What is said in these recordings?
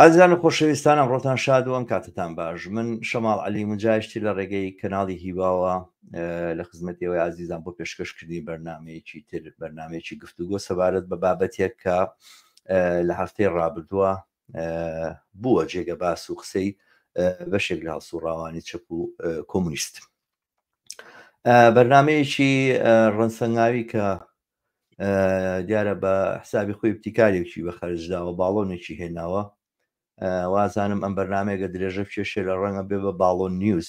ئازیان و خۆشەویستانە ڕۆتان شاد و ئەم کاتتان باش من شەماڵ علی مجاشتی لە ڕێگەی کەناڵی هیواوە لە خزمەتەوەی ئازیزان بۆ پێشکەشکردنی بەرنمەیەکی تر بەرنمەیەکی گفتوگۆ سەبارەت بە بابەتێک کە لە هەفتەی ڕابردووە بووە جێگە باس و قسەی بەشێک لە هەڵسوڕاوانی چەپ و کۆمونیست بەرنمەیەکی ڕەنسەنگاوی کە دیارە بە حسابی خۆی ابتیکارێکی بە خەرجداوە باڵۆنێکی هێناوە وازانم ئەم بەرنمێکە درێژە کێشێ لە ڕەنگە بێ بە باڵۆن نیوز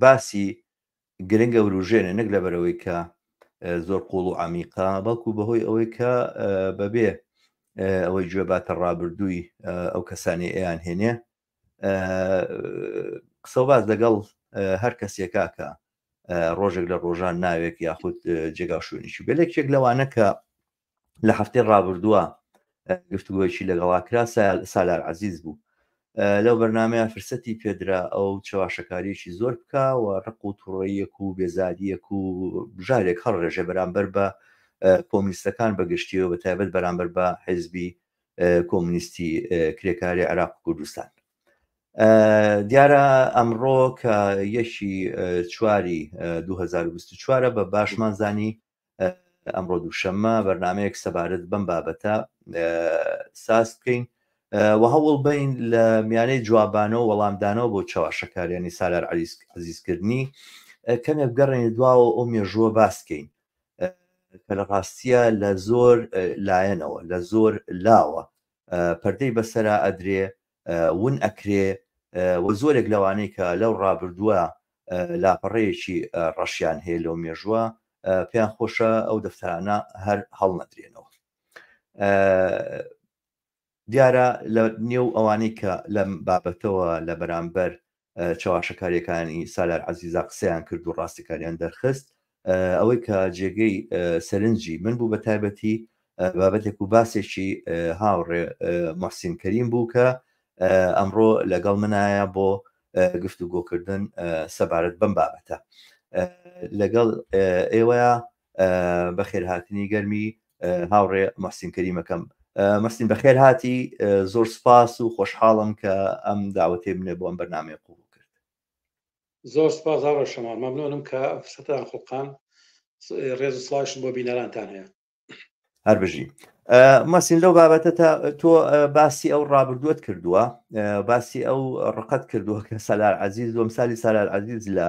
باسی گرنگە وروژێنێ نەک لەبەرەوەی کە زۆر قوڵ و عمیقا بەڵکو بەهۆی ئەوەی کە بەبێ ئەوەی گوێ باتە ڕابردووی ئەو کەسانی ئەیان هێنێ قسە باز لەگەڵ هەر کەسێکاکە ڕۆژێک لە ڕۆژان ناوێک یاخود جێگاشوێنیشی بێ لەکێک لەوانە کە لە هەفتەی ڕابردووە گفتوگۆیەکی لەگەڵا کرا سالار عزیز بوو لەو بەرنمەیە فرسەتی پێدرا ئەو چەواشەکاریەکی زۆر بکە و ڕق و توڕەیەک و بێزاریەک و بژارێک هەڵ ڕێژێ بەرامبەر بە کۆمیستەکان بەگشتیەوە بە تایبەت بەرامبەر بە حزبی کۆمنیستی کرێکاری عراق و کوردستان دیارە ئەمڕۆ کە یەکی چواری 2024 بە باشمان زانی ئەمڕۆ دووشەممە بەرنامەیەک سەبارەت بەم بابەتە ساز بکەین و هەوڵ بین لە میانەی جوابانەوە وەڵامدانەوە بۆ چاواشەکاریانی سالار عریسک عزیزکردنی کەمێک گەڕێنی دواوە ئەو مێژووە باسکەین کە لە ڕاستیە لە زۆر لایەنەوە لە زۆر لاوە پەردەی بەسرا ئەدرێ ون ئەکرێ و زۆرێک لەوانەی کە لەو ڕابردووە لاپەڕەیەکی ڕەشیان هەیە لەو مێژووە پێیان خۆشە ئەو دەفتەرانە هەر هەڵنەدرێنەوە دیارە لە نێو ئەوانەی کە لەم بابەتەوە لە بەرامبەر چەواشەکاریەکانی سالار عزیزا قسەیان کرد و ڕاستەکاریان دەرخست ئەوەی کە جێگەی سەرنجی من بوو بە تایبەتی بابەتێک و باسێکی هاوڕێ مەحسین کەریم بوو کە ئەمڕۆ لەگەڵ منایە بۆ گفتوگۆکردن سەبارەت بەم بابەتە لەگەڵ ئێوەیە بەخێرهاتنی گەرمی هاوڕێ مەحسین کەریمەکەم مەستین بەخێر هاتی زۆر سپاس و خۆشحاڵم کە ئەم داوەتێ بنێ بۆ ئەم بەرنمەیە قوڵ کرد زۆر سپاس هاڕۆ شەما مەمنۆنم کە فسەتان خڵقان ڕێز سڵاش بۆ بینەرانتان هەیە هەر بژی مەسین لەو بابەتە تا تۆ باسی ئەو ڕابردووت کردووە باسی ئەو ڕقەت کردووە کە سەلار عزیز دوم سالی سالار عزیز لە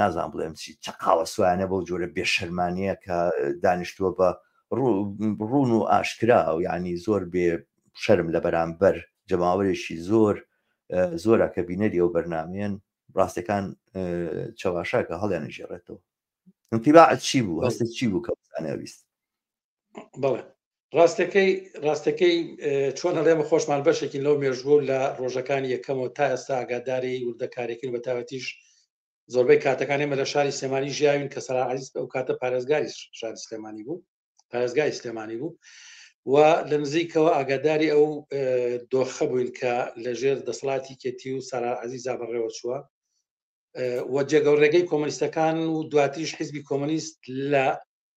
نازان بڵێم چی چ قاوە سویانە بەو جۆرە بێشەرمانەیە کە دانیشتووە بە ڕوون و ئاشکرا و یعنی زۆر بێ شەرم لە بەرامبەر جەماوەێکی زۆر زۆرە کە بینەری ئەو بەرنمێن ڕاستەکان چەواشاکە هەڵیان نژێڕێتەوە انتیباعت چی بوو هەستە چی بوو کە بزانەویست بەڵێ ڕاستەکەی ڕاستەکەی چۆن هەڵێمە خۆشمان بەشێکی لەو مێژوو لە ڕۆژەکانی یەکەمەوە تا ئێستا ئاگاداری وردەکارێکن بە تاوەتیش زۆربەی کاتەکانی مە لە شاری سلێمانی ژیاوین کە سەراعیز ئەو کاتە پارێزگاری شاری سلێمانی بوو پارێزگای سلێمانی بوو و لە نزیکەوە ئاگاداری ئەو دۆخە بووین کە لە ژێر دەسڵاتی کێتی و سارا عزیزا بەڕێوە چووە و جێگەڵ ڕێگەی کۆمەنیستەکان و دواتریش حیزبی کۆمەنیست لە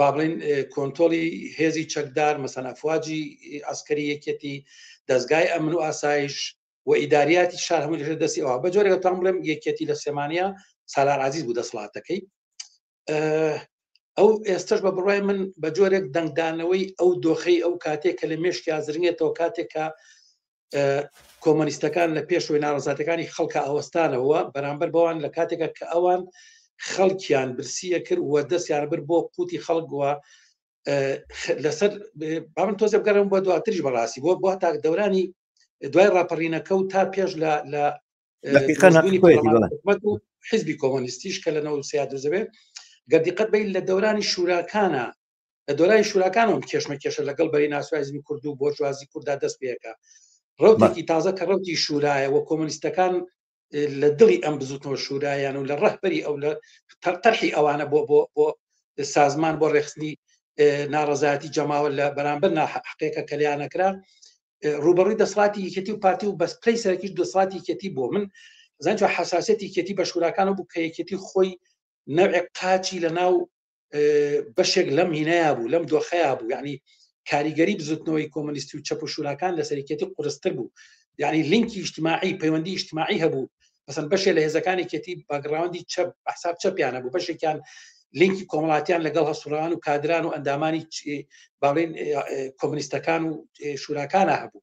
بابلین کۆنتۆلی هێزی چەکدار مەسەن ئەفواجی ئەسکەری یەکێتی دەستگای ئەمن و ئاسایش و ئیداریاتی شار هەموو لەژێر دەستی ئەوە بە جۆرێک تام بڵێم یەکێتی لە سێمانە سالار عزیز بوو دەسڵاتەکەی ئەو ئێستش بە بڕای من بە جۆرێک دەنگدانەوەی ئەو دۆخەی ئەو کاتێک کە لە مێشکیا زرنگێتەوە کاتێکە کۆمۆنیستەکان لە پێشوەی ناڕزاتەکانی خەڵکە ئەوەستانەوە بەرامبەر بەوان لە کاتێکە کە ئەوان خەڵکیان برسیە کرد وە دەستیان بر بۆ قوتی خەڵکوە لەسەر بامن تۆزە بگەرم بۆ دواتریش بەڕاستی بۆ بۆ تاک دەورانی دوای ڕاپەڕینەکە و تا پێش لە لە حزبی کۆمۆنیستیش کە لە نەوسیا دەزەوێت گەردیقەت بین لە دەورانی شوراکانە لە دۆرای شوراکانەوە کێشمەکێشە لەگەڵ بەری ناسوایزمی کورد و بۆرژوازی کووردا دەست پێەکە ڕوتێکی تازە کە ڕوتی شورایە وە کۆمەنیستەکان لە دڵی ئەم بزوتنەوە شورایان و لە ڕەهبەری ئەو لە تەرقی ئەوانە بۆ بۆ بۆ سازمان بۆ ڕێخستنی ناڕزایەتی جەماوە لە بەرامبەر ناحقێکە کەلیانەکرا ڕوبەڕووی دەسڵاتی یەکێتی و پارتی و بەسپی سەرکیش دەسڵاتی یەکێتی بۆ من زانجو حساسەتی کێتی بە شوراکان و بوو کە یەکێتی خۆی نەوێک قاچی لە ناو بەشێک لەم هینەیە بوو لەم دۆخەیە بوو یعنی کاریگەری بزوتنەوەی کۆمەنیستی و چەپ و شوراکان لە سەرکێتی قرستر بوو یعنی لینکی اجتماعی پەیوەندی اجتماعی هەبوو بەسەن بەشێ لە هێزەکانی کێتی باگراوندی چەپ حساب چەپیانە بوو بەشێکیان لینکی کۆمەڵاتیان لەگەڵ هەسوڕان و کادران و ئەندامانی باڵین کۆمنیستەکان و شوراکانە هەبوو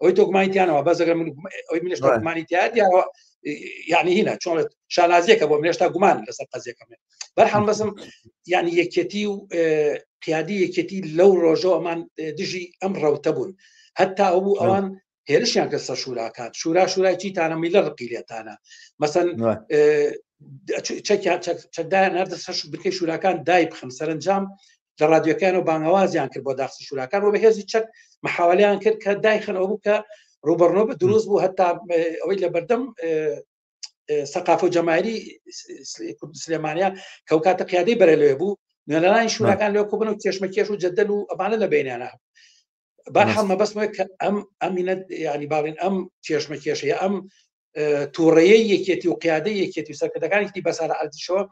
ئەوی تۆکمانیتیانەوە بەس ئەگەر ئەوی منش تۆکمانی تیادیەوە یعنی هینە چۆن شانازیەکە بۆ منێشتا گومان لەسەر قەزیەکەم بەرحم بەسم یعنی یەکەتی و قیادی یەکەتی لەو ڕۆژەوە ئەمان دژی ئەم ڕەوتە بوون هەتا ئەو بوو ئەوان هێرشیان کە سەر شوراکات شورا شورای چیتانە میلە ڕقی لێتانە مەسەن چەکیان چەکدایان نردە سەر بکەی شوراکان دای بخم سەرنجام لە رادیۆکانەوە بانگەوازیان کرد بۆ داخسی شوراکان و بە هێزی چەک مححاولیان کرد کە دایخنەوە بوو کە ڕوبەرنۆ بە دروست بوو هەتا ئەوەی لە بەردەم سەقاف و جەمایری کورد سلێمانیا کەو کاتە قیادەی بەرە لێ بوو نوێنەرانی شوراکان لەو کوبن و کێشمەکێش و جەدەل و ئەمانە لە بینیانە بەحاڵ مەبەستمە کە ئەم ئەمینە ینی باڵین ئەم کێشمە کێشەیە ئەم تووڕەیە یەکێتی و قیادە یەکێتی و سەرکردەکانیتی بەسارە ئەزیشەوە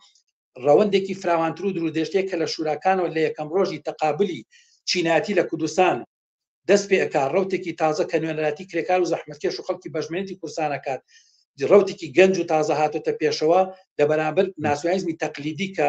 ڕەوەندێکی فراوانتر و درودێشتێک کە لە شوراکانەوە لە یەکەم ڕۆژی تەقابلی چیناتی لە کوردستان دەست پێکا ڕوتێکی تازە کە نوێنەراتی کرێکار و زەحمەتکێش و خەڵکی بەژمێنێتی کورسانەکات ڕوتێکی گەنج و تازە هاتۆتە پێشەوە لە بەرامبەر ناسیۆنیزمی تەقلیدی کە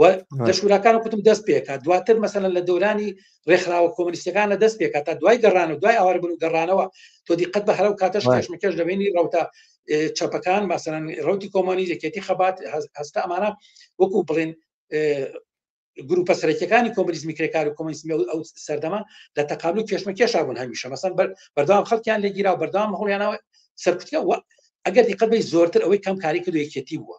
و لە شوراکان کوتم دەست پێکات دواتر مەسەن لە دەورانی ڕێکخراوە کۆمنیستەکانە دەست پێکات تا دوای گەڕان و دوای ئاواربن و گەڕانەوە تۆ دیقەت بە هەرە و کاتەش کێشمەکەش دەبینی ڕوتە چەپەکان مەسەن ڕوتی کۆمۆنی یەکێتی خەبات هەستە ئەمانە وەکو بڵێن گروپە سەرەکیەکانی کۆمریزمی کرێکار و کۆمنیسمی ئەو سەردەما لە تەقابل و کێشمە کێشابوون هەمیشە مەسەن بەردام خەڵکیان لێگیرا بەردام هەڵیانەوە سەرکوتکە ئەگەر دیقەت بی زۆرتر ئەوەی کەم کاری کردو یەکێتی بووە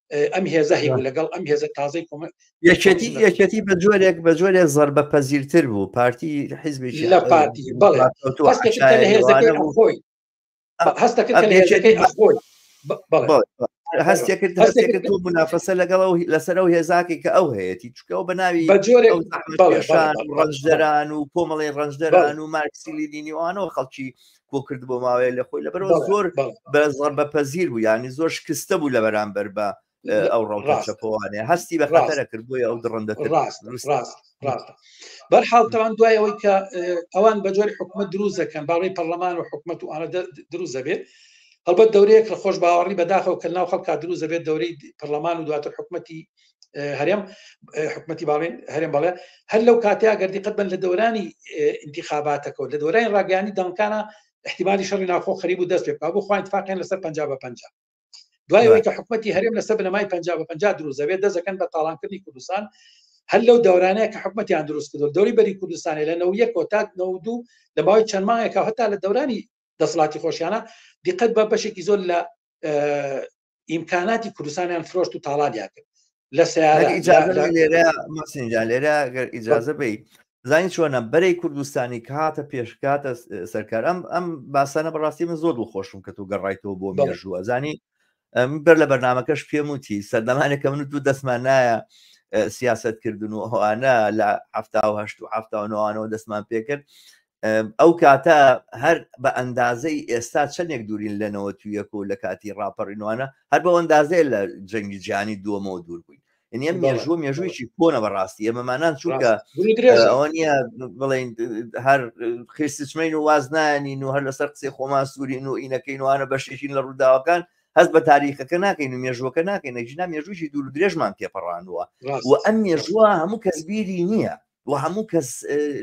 ئەم هێزە هەیە لەگەڵ ئەم هێزە تازەی کۆمە یەکێتی یەکێتی بە جۆرێک بە جۆرێک زربە پەزیرتر بوو پارتی حیزبی لە پارتی بەڵێ هەستێکرد هەستێکرد و منافەسە لەگەڵ و لەسەر و هێزاکی کە ئەو هەیەی چکەەوە بە ناوی ڕەنجدەران و کۆمەڵی ڕەنجدەران و مارکسیلی دینیوانەوە خەڵکی کۆ کرد بۆ ماوەیە لە خۆی لەبەرەوە زۆر بە زڕ بە پەزیر بوو ینی زۆر شکستە بوو لە بەرامبەر بە ئەو ڕەوڕاستەوانێ هەستی بە خەتەرە کرد بۆی ئەو دڕندە ڕاست ڕاست ڕاست بەرحاڵ تاوان دوای ئەوەی کە ئەوان بە جۆری حکومت دروست دەکەن باڵی پەرلەمان و حکومت و ئاە دروست دەبێت هەڵبەت دەورەیەک لە خۆش باوەڕی بەداخەوە کە ناو خەڵکا دروست دەبێت دەورەی پەرلەمان و دواتر حکومەتی هەرێم حکوومەتتی باڵێن هەرێم بەڵێ هەر لەو کاتیا گەردی قەت بن لە دەورانی انتخاباتەکە و لە دەورانی ڕاگەانی دەنکانە احتیممالی شەڕی ناخۆ خەریب و دەست پێ بۆ خۆیان تفاقیان لەسەر پ بە پ دوای کە حکوومەتتی هەرێم لەسەر بنەمای پ بە پ دروزەوێت دەزەکەن بە تاڵانکردنی کوردستان هەر لەو دەورانەیە کە حکوومەتیان دروست کردو دەوری بەری کوردستانی لە نەویە کۆتات نەودوو لە باوی چەند ماهێکە هەتا لە دەورانی دەسڵاتی خۆشیانە دیقەت بە بەشێکی زۆر لە ئیمکاناتی کوردستانیان فرۆشت و تاڵانیان کرد لە سیارە لێرەسینجا لێرە گەر ئیجازە بی زانی چۆنە بەرەی کوردستانی کاتە پێشکاتە سەرکار ئەم ئەم باسانە بەڕاستی من زۆر دڵخۆشم کە تۆ گەڕایتەوە بۆ مێژووە زانی بەر لە بەرنمەکەش پێم وتی سەردەمانێک کە من دوو دەستمان نایە سیاست کردن و ئەوانە لە هەفتاهشت و هەفتاەوەەوە دەستمان پێکرد ئەو کاتە هەر بە ئەندازەی ئێستا چەندێک دوورین لە نەوە تویەک و لە کاتی ڕاپەڕینوانە هەر بەو ئەندازەیە لە جەنگی جیانی دووەمەوە دوور بووین ئەنیە مێژووە مێژوویی کۆنە بەڕاستی ئێمەمانان چونکە ئەوە نیە بڵین هەر خێستچمەین و واز نایەنین و هەر لەسەر قسەی خۆمان سوورین و ئینەکەین وانە بەشێکین لە ڕووداوەکان هەست بە تاریخەکە ناکەین و مێژووەکە ناکەین نەژینا مێژووی دوور درێژمان تێپەڕانوە و ئەم مێژووە هەموو کەسبیری نییە و هەموو کەس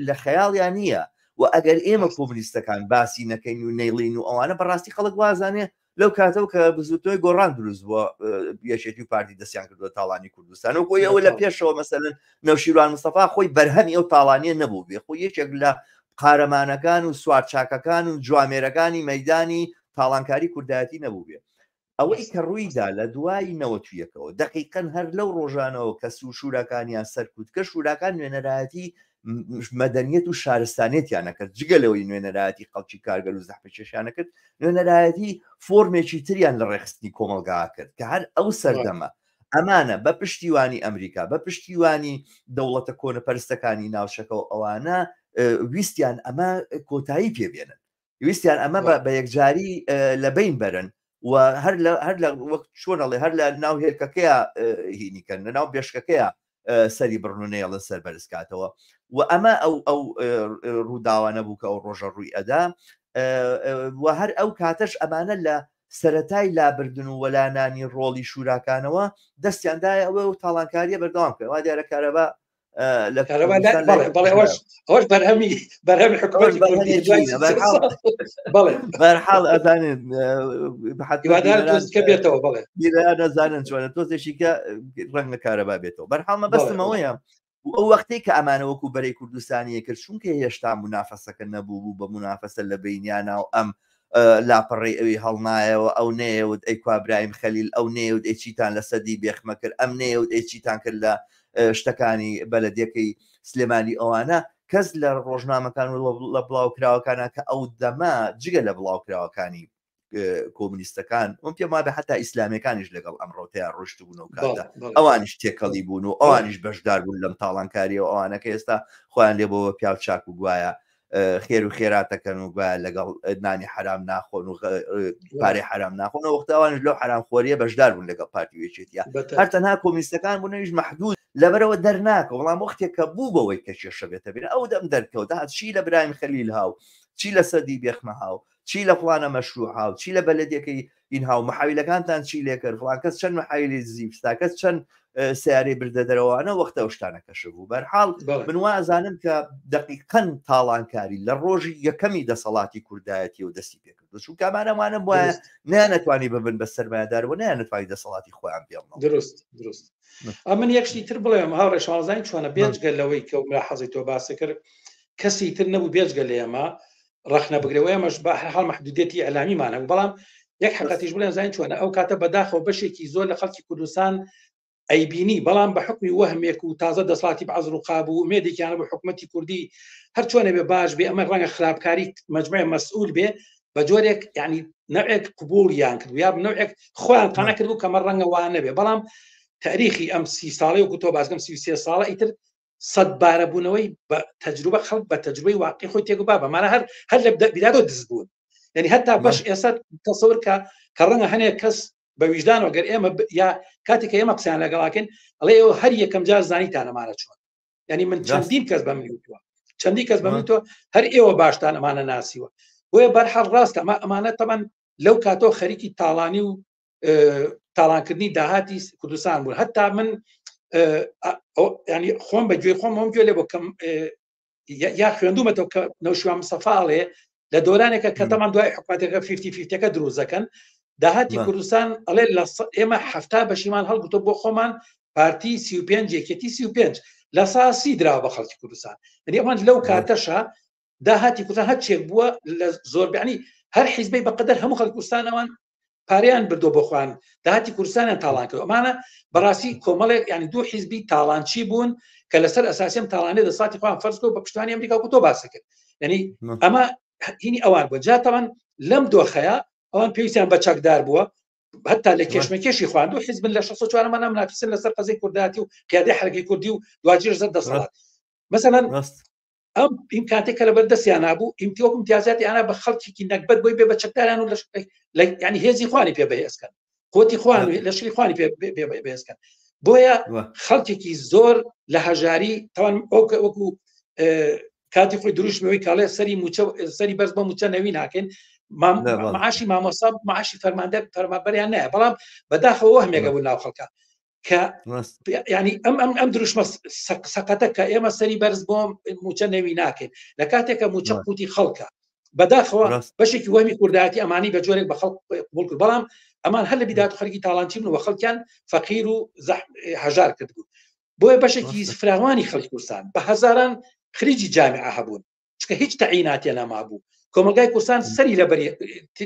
لە خەیاڵیان نییە و ئەگەر ئێمە کۆمنیستەکان باسی نەکەین و نەیڵین و ئەوانە بەڕاستی خەڵک وازانێ لەو کاتەوە کە بزوتنەوەی گۆڕان دروست بووە یەکێتی و پارتی دەستیان کردووە تاڵانی کوردستان و خۆی ئەوە لە پێشەوە مەسەن نەوشیروان مستەفا خۆی بەرهەمی ئەو تاڵانیە نەبوو بێ خۆ یەکێک لە قارەمانەکان و سوارچاکەکان و جوامێرەکانی مەدانی تاڵانکاری کوردایەتی نەبوو بێ ئەوەی کە ڕوویدا لە دوای نەوەت و یەکەوە، دەقیقەن هەر لەو ڕۆژانەوە کە سوو شوراکانیان سەرکوت کرد، شوراکان نوێنەرایەتی مەدەنیەت و شارستانیەتیان نەکرد، جگە لەوەی نوێنەرایەتی خەڵکی کارگەر و زەحمەتکێشیان نەکرد، نوێنەرایەتی فۆرمێکی تریان لە ڕێکخستنی کۆمەڵگا کرد، کە هەر ئەو سەردەمە ئەمانە بە پشتیوانی ئەمریکا، بە پشتیوانی دەوڵەتە کۆنەپەرستەکانی ناوچەکە و ئەوانە ویستیان ئەمە کۆتایی پێ بێنن. ویستیان ئەمە بە یەکجاری لە بین بەرن و هەر لە هەر لە وەک چۆنەڵێ هەر لە ناو هێلکەکەیە هینیکەن لە ناو بێشکەکەیە سەری بڕنونەیەڵن سەر بەرزکاتەوە و ئەمە ئەو ئەو ڕووداوانە بوو کە ئەو ڕۆژە ڕووی ئەدا و هەر ئەو کاتەش ئەمانە لە سەتای لابردن و وەلانانی ڕۆڵی شوراکانەوە دەستیاندای ئەوە و تاڵانکاریە بەردەوام کرد وا دیارە کارەبا ئەوش بەرهەمی بەرهەمی حکومەت بڵێ بەرحاڵ ئەزانێت بێتەوە بڵێ نەزانن چۆنە تۆزێکی کە ڕەنگە کارەبا بێتەوە بەرحاڵمە بەستمەوەیە ئەو وەختی کە ئەمانە وەکو بەرەی کوردستانیە کرد چونکە هێشتا منافەسەکە نەبوو بوو بە منافەسە لە بینیانە و ئەم لاپەڕەی ئەوی هەڵنایەوە، ئەو نەیەوت ئەی کوا برایم خەلیل، ئەو نەیەوت ئەی چیتان لە سەدی بێخمە کرد، ئەم نەیەوت ئەی چیتان کرد لە شتەکانی بەلەدیەکەی سلێمانی ئەوانە کەس لە ڕۆژنامەکان و لە بڵاوکراوەکانە کە ئەو دەمە جگە لە بڵاوکراوەکانی کۆمنیستەکان ئەم پێم وابێ حتا ئیسلامەکانیش لەگەڵ ئەم ڕۆتەیە ڕشتبوون و کاتە ئەوانیش تێکەڵی بوون و ئەوانیش بەشدار بوون لەم تاڵانکاریەوە ئەوانەکە ئێستا خۆیان لێ بۆ پیاو چاک و گوایە خێر و خێراتەکەن و گوایە لەگەڵ نانی حرام ناخۆن و پارەی حرام ناخۆن و وەختاوانش لەو حرامخۆریە بەشدار بوون لەگەڵ پارتیوێچێتە هەر تەنها کۆمیستەکان بوون نویش محدود لەبەرەوە دەرناکە وڵام وەختێک کە بوو بەوەی کە کێشە بێتە بێن ئەو دەم دەرکەوت هاات چی لە برایم خەلیل هاو چی لە سەدی بێخمە هاو چی لە فلانە مەشروع هاو چی لە بەلەدەکەی ئینها و محاویلەکانتان چی لێکرد فڵان کەس چەند محاویلی دزی فستا کەس چەند سیارەی بردە دەرەوانە وەختە شتانە کەشف بوو بەرحاڵ من وازانم کە دقیقەن تاڵانکاری لە ڕۆژی یەکەمی دەسەڵاتی کوردایەتی و دەستی پێکرد چون کامانەمانە وایە نیانەتوانی ببن بە سەرمایدار و نیانەتوانی دەسەڵاتی خۆیان پێڵ دروست دروست ئەمن یەکشتی تر بڵێم هاوڕێ شازانین چۆنە بێجگە لەوەی کە و مراحەزی تۆ باسە کرد کەسی تر نەبوو بێجگە لە ئێمە ڕخنە بگرێ و ئێمەش بە هەر حال محدودێتی ئەلامیمان هەبوو بەڵام یەک حقاتیش بڵێن زانین چۆنە ئەو کاتە بەداخەوە بەشێکی زۆر لە خەڵکی کوردستان ئەیبینی بەڵام بە حکمی وەهمێک و تازە دەسڵاتی بەعز و قاب و مێدێکیانە بە حکوومەتتی کوردی هەر چۆنە بێ باش بێ ئەمە ڕەنگە خراپکاری مجموعی مەسئول بێ بە جۆرێک ینی نەوێک قوبولیان کرد یا نەوێک خۆیان قانە کرد و کەمە ڕەنگە وانە بێ بەڵام تاریخی ئەم سی ساڵی و کوتۆ بازگەم سی ساڵە ئیتر سەد بارە بوونەوەی بە تەجروبە خەڵک بە تەجروبەی واقعی خۆی تێگو بابە مانە هەر هەر لە بیرادۆ دز بوون یعنی هەتا بەش ئێستا تەسەور کە کە ڕەنگە هەنێک کەس بە ویژدان وەگەر ئێمە یا کاتێک ئێمە قسەیان لەگەڵاکەن ئەڵێ ئەو هەر یەکەم جار زانی تانەمانە چۆن ینی من چەندین کەس بە منوتوە چەندی کەس بە منتۆ هەر ئێوە باشتان ئەمانە ناسیوە بۆیە بەرحەڵ ڕاستە ئەمە ئەمانە تەمان لەو کاتەوە خەریکی تاڵانی و تاڵانکردنی داهاتی کوردستان بوو هەتا من ینی خۆم بە گوێ خۆم ئەم گوێ لێ بکەم یا خوێندومەتەوە کە نەوشوان مسەفاڵێ لە دۆرانێکە کە دەمان دوای حکواتەکە فیفتی فیفتەکە دروزەکەن داهاتی کوردستان ئەڵێ لە ئێمە هەفتا بەشیمان هەڵگوتۆ بۆ خۆمان پارتی سی و پێنج یەکێتی سی و پێنج لە ساسی درا بە خەڵکی کوردستان ئەنی ئەمان لەو کاتەشە داهاتی کوردستان هەر چێک بووە لە زۆربیانی هەر حیزبەی بەقدر هەموو خەڵکوستانەوان پاریان بردو بۆ خوان داهاتی کوردستانیان تاڵان کرد ئەمانە بەڕاستی کۆمەڵێک ینی دوو حیزبی تاڵانچی بوون کە لەسەر ئەساسیم تاڵانێ لە ساتی خوان فەرزکۆ بە پشتوانی ئەمریکا و تۆ باس کرد ینی ئەمە هینی ئەوان بۆ جاتەوان لەم دۆخەیە ئەوان پێویستیان بە چەکدار بووە هەتا لە کێشمەکێشی خواند و حزبن لە 16 مانام ناپسن لەسەر قەزی کورداتی و قیادی حرەکەی کوردی و دواجر زەر دەسەڵات مەسەەن ئەم ئیمکاتێک کە لەبەر دەستیان نبوو ئیمتیۆک امتیازاتی ئانا بە خەڵکیی نەکبەت بۆی بێ بە چەکداران و لە ینی هێزی خوانی پێ بەهێزکەن قوتی خوان لەشری خوانی پێ بێزکەن بۆیە خەڵکێکی زۆر لە هەژاری تاوان ئەوکە وەکو کاتی خۆی دروشمەوەی کاڵێ سەری موچە سەری بەرز بە موچە نەوی ناکەین معاشی مامۆسا معاشی فەرماندە فەرمابەریان نایە بەڵام بەداخەوە هەمێکە بوو ناو خەڵکە کە ینی ئەم ئەم ئەم دروشمە سەقەتە کە ئێمە سەری بەرز بۆم موچە نەوی ناکەین لە کاتێکە موچە قوتی خەڵکە بەداخەوە بەشێکی وەمی کوردایەتی ئەمانی بە جۆرێک بە خەڵک بڵ کرد بەڵام ئەمان هەر لە بیدات خەرکی تاالانچی بن و خەڵکیان فەقیر و هەژار کرد بوو بۆیە بەشێکی فراوانی خەڵکی کوردستان بە هزاران خریجی جامعە هەبوون چکە هیچ تەعیناتە نەما بوو کۆمەلگای کوردستان سەری لە بەری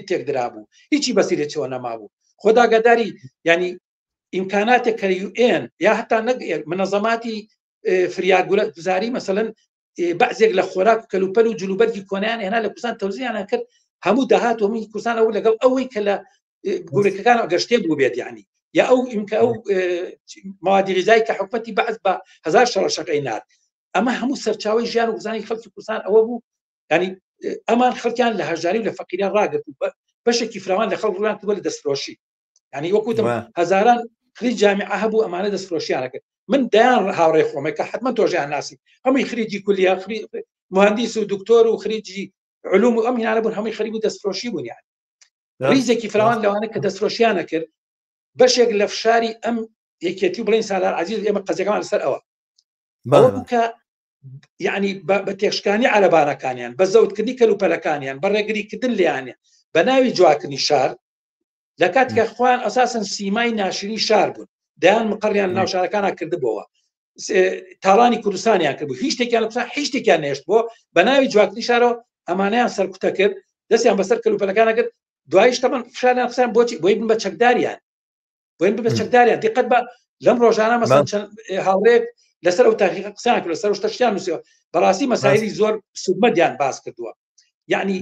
تێکدرا بوو هیچی بەسیرێتەوە نەما بوو خۆداگەداری ینی ئیمکاناتێک کە یوئێن یا هەتا نەک منەزەماتی فریاگولە گوزاری مەسەن بەزێک لە خۆراک و کەلوپەل و جلوبەرگی کۆنیان هێنا لە کوردستان تەوزیانە کرد هەموو داهات و هەمووی کوردستان ئەو لەگەڵ ئەوەی کە لە گورەکەکان گەشتێ بوو بێت ینی یا ئەو ئیمکە ئەو مادیریزای کە حکوەتی بەعز بە هزار شەڕەشەکەی نات ئەمە هەموو سەرچاوی ژیان و گوزانی خەڵکی کوردستان ئەوە بوو ینی ئەمان خەڵکیان لە هەژاری و لە فەقیران ڕاگرت بەشێکی فراوان لە خەڵ ڕوان بووە لە دەستفرۆشی ینی وەکوتم هەزاران خری جامی هەبوو ئەمانە دەستفرۆشیانەکرد من دایان هاوڕێ خۆمە کە حتممە تۆژیان ناسی ئەمی خریجی کولیا خری مهندیس و دکتۆر و خریجی علوم و ئەم هینانە بوون هەمووی خەریب و دەستفرۆشی بوونیان ریزێکی فراوان لەوانە کە دەستفرۆشیانە کرد بەشێک لە فشاری ئەم یەکێتی و بڵین سالار عزیز ئێمە قەزەکەمان لەسەر ئەوە بکە یعنی بە تێشکانی عربانەکانیان بە زەوتکردنی کەلوپەلەکانیان بە ڕێگریکردن لیانە بە ناوی جوواکردنی شار لە کاتکە خۆیان ئەساسن سیمای ناشرین شار بوون دەیان مقڕیان ناوشارەکانە کردبووەوە تاڵانی کوردستانیان کرد هیچ شتێکیان قسە هیچ شتێکیان نێشت بۆ بە ناوی جواتنی شارەوە ئەمانیان سەرکوتە کرد دەستیان بەسەر کەلوپەلەکانە کرد دوایش تەمان فشاریان قسان بۆچی بۆی بن بە چەکداریان بۆین ببە چەکداریان دیقەت بە لەم ڕۆژانە مەسەن چەند هاوڕێک لەسەر ئەو تاقیقە قسان کرد لەسەر شتەشیان نووسەوە بەڕاستی مەسایری زۆر سوودمەدیان باس کردووە یعنی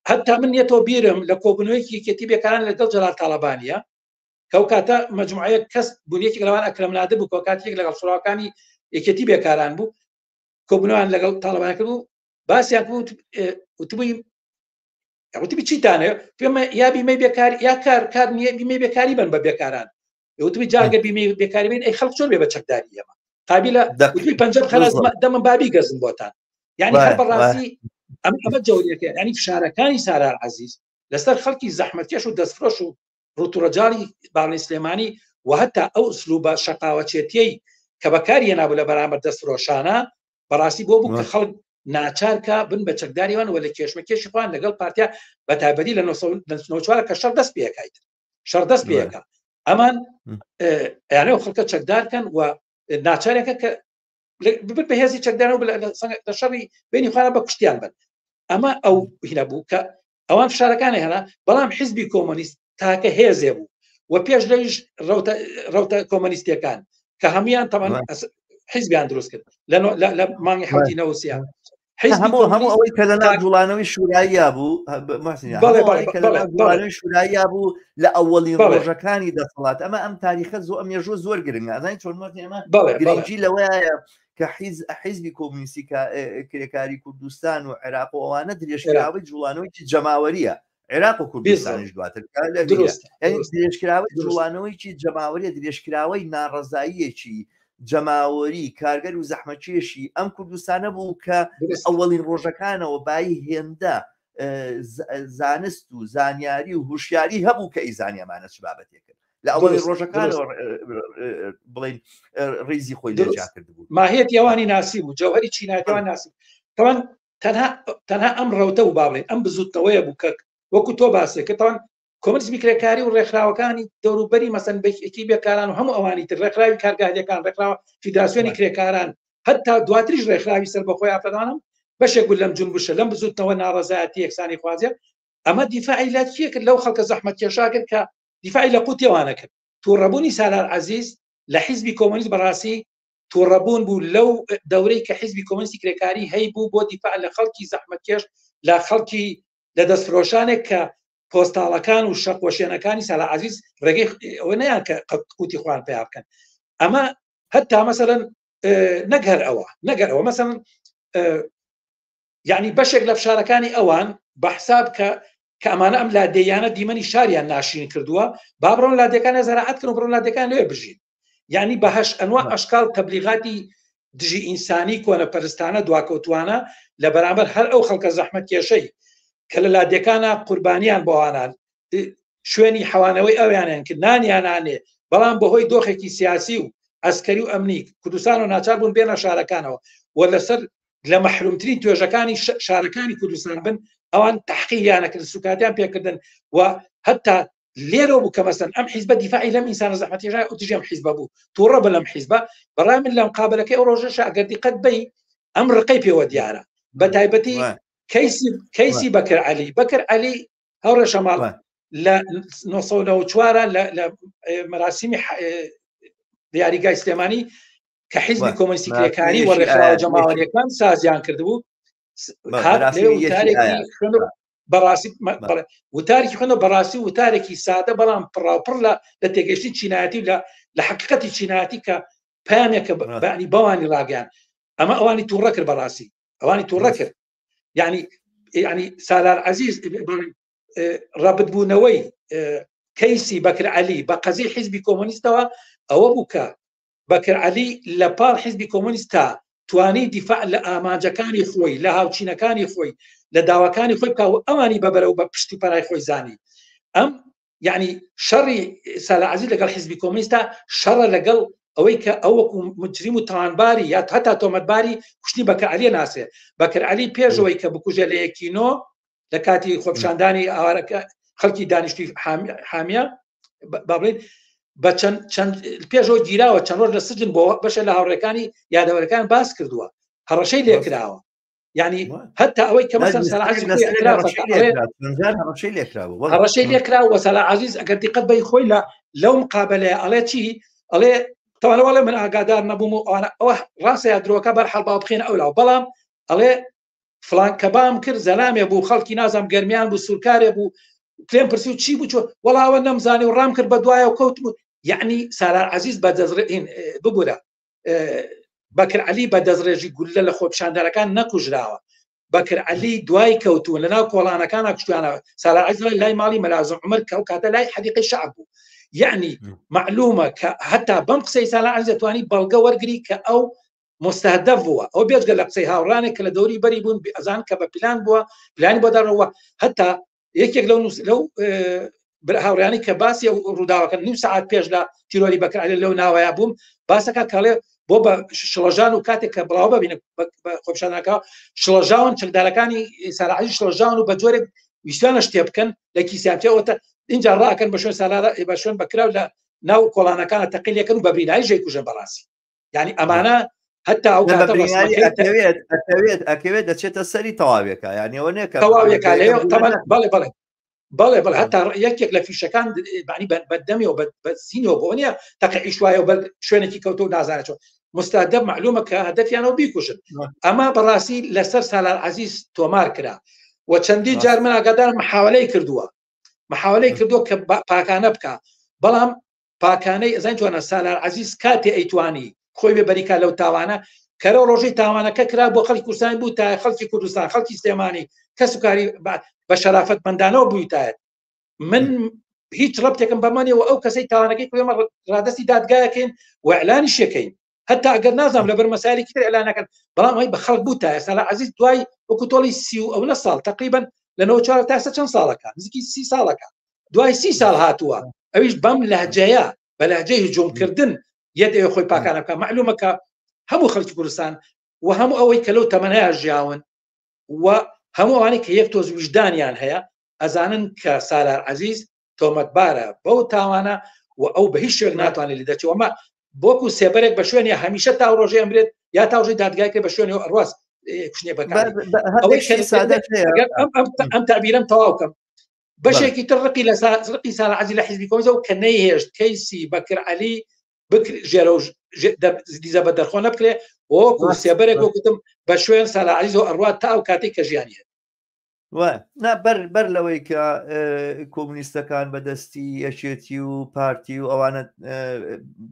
هەتا من یەتەوە بیرم لە کۆبنەوەیکی یەکێتی بێکاران لەگەڵ جەلال تاالبانە کەو کاتە مجموعەیە کەس بوونیەکی لەوان ئەکرم نادە بوو کۆ کاتێک لەگەڵ سوراوەکانی یەکێتی بێکاران بوو کۆبنەوەیان لەگەڵ تاالبان کرد و باسیان وتبووی وتبی چیتانێ پێمە یا بیمەی بێکار یا کار کار نییە بیمەی بێکاری بن بە بێکاران وتبی جاگە بیمەی بێکاری بین ئەی خەڵک چۆن بێ بە چەکداری ئێمە قابلە دەکوی پنج خلاص دەمە بابی گەزم بۆتان یعنی هەر بەڕاستی ئەم ئەمە جەوریەکە ینی فشارەکانی سارار عزیز لەسەر خەڵکی زەحمەتکێش و دەستفرۆش و ڕوتوڕەجاری باڵی سلێمانی و هەتا ئەو سلوبە شەقاوەچێتیەی کە بەکاری هێنابوو لە بەرامبەر دەستفرۆشانە بەڕاستی بۆ بوو کە خەڵک ناچارکە بن بە چەکداریوان وە لە کێشمە کێشی خۆیان لەگەڵ پارتیا بە تابەری لە 1940 کە شەر دەست پێکیت شەر دەست پێەکە ئەمان یانە خەڵکە چەکدارکەن و ناچارەکە کە ببن بە هێزی چەکدانەوە لە شەڕی بینی خۆیان بە کوشتیان بن ئەمە ئەو هینە بوو کە ئەوان فشارەکانی هەنا بەڵام حیزبی کۆمۆنیست تاکە هێزێ بوو و پێش لەویش ڕوتە کۆمەنیستەکان کە هەمویان تەمان حیزبیان دروست کرد لە مانگی حوتی نەوسیان هەموو هەموو ئەوەی کە لەنا جوڵانەوەی شوراییا بوو شوراییا بوو لە ئەوەڵی ڕۆژەکانی دەسەڵات ئەمە ئەم تاریخە زۆ ئەم مێژوو زۆر گرنگ ئازای چۆن ئێمە گرنگی لەوەیە کە حیزبی کۆمونیستی کرێکاری کوردستان و عێراق و ئەوانە درێژکراوەی جوڵانەوەیکی جەماوەریە عێراق و کوردستانیش دواتر درێژکراوەی جوڵانەوەیکی جەماوەریە درێژکراوەی ناڕزاییەکی جەماوەری کارگەر و زەحمەکێشی ئەم کوردستانە بوو کە ئەوەڵین ڕۆژەکانەوە بای هێندە زانست و زانیاری و هوشیاری هەبوو کە ئیزانیەمانە چ بابەتێکن لە ئەوەی ڕۆژەکانەوە بڵین ڕیزی خۆی دەجاکردبوو ماهێت یوانی ناسی بوو جەوهری چیناتیوان ناسی تەوان تەنها تەنها ئەم ڕەوتە و باڵێ ئەم بزوتنەوەیە بوو کە وەکو تۆ باسێک کە تاوان کۆمنسمی کرێکاری و ڕێکخراوەکانی دەوروبەری مەسەن بەکی بێکاران و هەموو ئەوانی تر ڕێکخراوی کارگاهەکان ڕێکخراوە فیدراسیۆنی کرێکاران هەتا دواتریش ڕێکخراوی سەر بەخۆی ئافرەدانم بەشێک بوو لەم جون بشە لەم بزوتنەوە ناڕزایەتی یەکسانی خوازیە ئەمە دیفاعی لە چیە کرد لەو خەڵکە زەحمەت کێشا کرد کە دیفاعی لە قوتی وانەکرد تووڕەبوونی سالار عزیز لە حیزبی کۆمۆنیست بەڕاستی تووڕەبوون بوو لەو دەورەی کە حیزبی کۆمۆنیستی کرێکاری هەی بوو بۆ دیفاع لە خەڵکی زەحمەتکێش لە خەڵکی لە دەستفرۆشانێک کە پۆستاڵەکان و شەقۆشێنەکانی سالا عزیز ڕێگەی ئەوە نیان کە قوتی خوان پیا بکەن ئەمە هەتا مەسەرەن نەگەر ئەوە نەگەر ئەوە مەسەن یەعنی بەشێک لە فشارەکانی ئەوان بە حساب کە کە ئەمانە ئەم لادێیانە دیمەنی شاریان ناشرین کردووە با بڕۆن لادێکانە زەراعەت کردن بڕۆن لادێکان لێ بژین یعنی بەهش ئەنوا ئەشکال تەبلیغاتی دژی ئینسانی کۆنە پەرستانە دواکەوتوانە لە بەرامبەر هەر ئەو خەڵکە زەحمەت کێشەی کە لە لادێکانە قوربانیان بۆوانان شوێنی حەوانەوەی ئەویانیان کرد نانیانانێ بەڵام بەهۆی دۆخێکی سیاسی و ئەسکەری و ئەمنیک کوردستان و ناچار بوون بێنە شارەکانەوە و لەسەر لە مەحرومترین توێژەکانی شارەکانی کوردستان بن ئەوان تحقیلیانەکرد سوکاتیان پێکردن و هەتا لێرە بوو کە مەسن ئەم حیزبە دیفاعی لەم ئینسانە زەحمەتیژای ئۆتیژم حیزبە بوو تووڕە بە لەم حیزبە بەڕای من لەم قابلەکەی ئەو ڕۆژە شاگەر دیقەت بی ئەم ڕقەی پێوە دیارە بە تایبەتی کەیسی کەیسی بەکر علی بەکر علی ئەو ڕێشەماڵ لە 1940 لە مەراسیمی دیاریگای سلێمانی کە حیزبی کۆمەسی کرێکاری و ڕێکخراوە جەماوەریەکان سازیان کردبوو بەڕاستی وتارێکی خوێنە بەڕاستی وتارێکی سادە بەڵام پڕاوپڕ لە لە تێگەشتی چینایەتی لە لە حقیقەتی چینایەتی کە پامێکە بەنی بەوانی ڕاگەیان ئەمە ئەوانی تووڕە کرد بەڕاستی ئەوانی تووڕە کرد یعنی یعنی سالار عزیز ڕبت بوونەوەی کەیسی بەکر علی بە قەزی حیزبی کۆمۆنیستەوە ئەوە بوو کە بەکر علی لە پاڵ حیزبی کۆمۆنیست تا توانی دیفاع لە ئامانجەکانی خۆی لە هاوچینەکانی خۆی لە داواکانی خۆی بکە و ئەوانی بەبەرەوە بە پشت و پەرای خۆی زانی ئەم یعنی شەڕی سالە عزیز لەگەڵ حزبی کۆمنیستا شەڕە لەگەڵ ئەوەی کە ئەوەکو مجریم و تاوانباری یا هەتا تۆمەتباری کوشتنی بەکەعالیە ناسێ بەکر علی پێشەوەی کە بکوژە لە یەکینۆ لە کاتی خۆپشاندانی ئاوارەکە خەڵکی دانیشتی حامیە بابلین بە چەند چەند پێشەوە گیراوە چەند ڕۆژ لە سجن بۆ بەشە لە هاوڕێکانی یادەوەرەکان باس کردووە هەڕەشەی لێکراوە یعنی هەتا ئەوەی کە ڕەشەی لێکرا وەسەلا عزیز ئەگەر دیقەت بەی خۆی لە لەو مقابلەیە ئەڵێ چی ئەڵێ تەواڵەوەڵێ من ئاگادار نەبووم و ئەوانە ئەوە ڕاستە یا درۆکە بەر حەڵبا بخێن ئەو لاو بەڵام ئەڵێ فلان کە بام کرد زەلامێ بوو خەڵکی نازم گەرمیان بوو سوورکارێ بوو پێم پرسی و چی بچوە وەڵاوە نەمزانی و ڕام کرد بە دوایە و کەوت بوو یعنی سالار عزیز بە دەزرین ببوورە بەکر علی بە دەستڕێژی گوللە لە خۆپشاندەرەکان نەکوژراوە بەکر علی دوای کەوتووە لە ناو کۆڵانەکان کوشتیانەوە سالا عزل لای ماڵی مەلازم عمر کە ئەو کاتە لای حەدیقی شعب بوو یعنی معلومە کە هەتا بەم قسەی سالا عزتوانی بەڵگە وەرگری کە ئەو مستهدف بووە ئەو بێجگە لە قسەی هاوڕانێک کە لە دەوری بەری بوون ئەزان کە بە پلان بووە پلانی بۆ دەڕەوە هەتا یەکێک لەو لەو هاوڕیانی کە باسی ڕووداوەکە نیم سعات پێش لە تیرۆری بەکرالێ لەو ناوەیە بووم باسەکە کاڵێ بۆ بە شڵەژان و کاتێک کە بڵاو ببینە خۆپشانەکە شڵەژاون چەکدارەکانی سەراعی شڵەژان و بە جۆرێک ویسیانە شتێ بکەن لە کیسیانتەوەتە اینجا ڕاکەن بە شوێن سالارە بە شوێن بەکراو لە ناو کۆڵانەکانە تەقیلەکەن و بەبینایژێ کوژە بەڕاستی یعنی ئەمانە هەتا ئەو ئەتەوێت ئەتەوێت ئەکەوێت دەچێتە سەری تەواوێکە یانەوە نێکە تەواوێکە لێ تەمان بەڵێ بڵێ بەڵێ بڵ هەتا یەکێک لە فیشەکان بانی بەدەمی و بەسینەوە بۆ نیە تەقە ئیش وایە بە شوێنێکی کەوتو نازانێتەوە مستادە معلومە کە هەدەفیانەوە بیکوشن ئەما بەڕاستی لەسەر سالار عزیز تۆمار کرا و چەندی جار من ئاگادار محاولەی کردووە محاولەی کردو کە پاکانە بکە بەڵام پاکانەی ئەزان جوانە سالار عزیز کاتێ ئەیتوانی خۆی بێ بەریکا لەو تاوانە کەرە ڕۆژەی تاوانەکە کرا بۆ خەڵک کوردستان بوو تا خەڵکی کوردستان خەڵکی سلێمانی کەس و کاری بە شەرافەت مندانەوە بوویتایەت من هیچ ڕەبتێکم بەمانەوە ئەو کەسەی تاوانەکەی کوێمە ڕادستی دادگایەکەین وعلانی شەکەین هەتا ئەگەر نازانم لەبەر مەسایلێکی تر ئەلا نەکەن بەڵام ئەوی بە خەڵک بوو تا ئێستا لە عزیز دوای وەکو تۆڵی سی و ئەو نە ساڵ تقریبن لەەوە چوار تاسە چەند ساڵەکە نزیکی سی ساڵەکە دوای سی ساڵ هاتووە ئەویش بەم لەجەیە بە لەجەی هجوومکردن یەت ئێ خۆی پاکانە بکە معلومەکە هەموو خەڵکی کوردستان و هەموو ئەوەی کە لەو تەمەنەیە ژیاون و هەمووانی کە یەک تۆز وژدانیان هەیە ئەزانن کە سالار عزیز تۆمەتبارە بەو تاوانە و ئەو بە هیچ شوێک ناتوانێت لە دەچێت ئەمە بۆکو سێبەرێک بە شوێنێ هەمیشە تا ڕۆژێ ئەمرێت یا تاژی دادگای کرد بە شوێنێ ئەڕاز کوشتێ بە ئەم تابیرم تەواوکەم بەشێکی تر ڕقی لە ڕقی ساعزی لە حیزبی کۆزە و کە نەیهێشت کەیسی بەکر علی دیزە بە دەرخۆ نەبکرێ وەکو سێبەرێک وەکوتم بە شوێن ساعزی و ئەڕات تا ئەو کاتی کە ژیانە بەر بەر لەوەی کە کۆمنیستەکان بەدەستی یەکێتی و پارتی و ئەوانە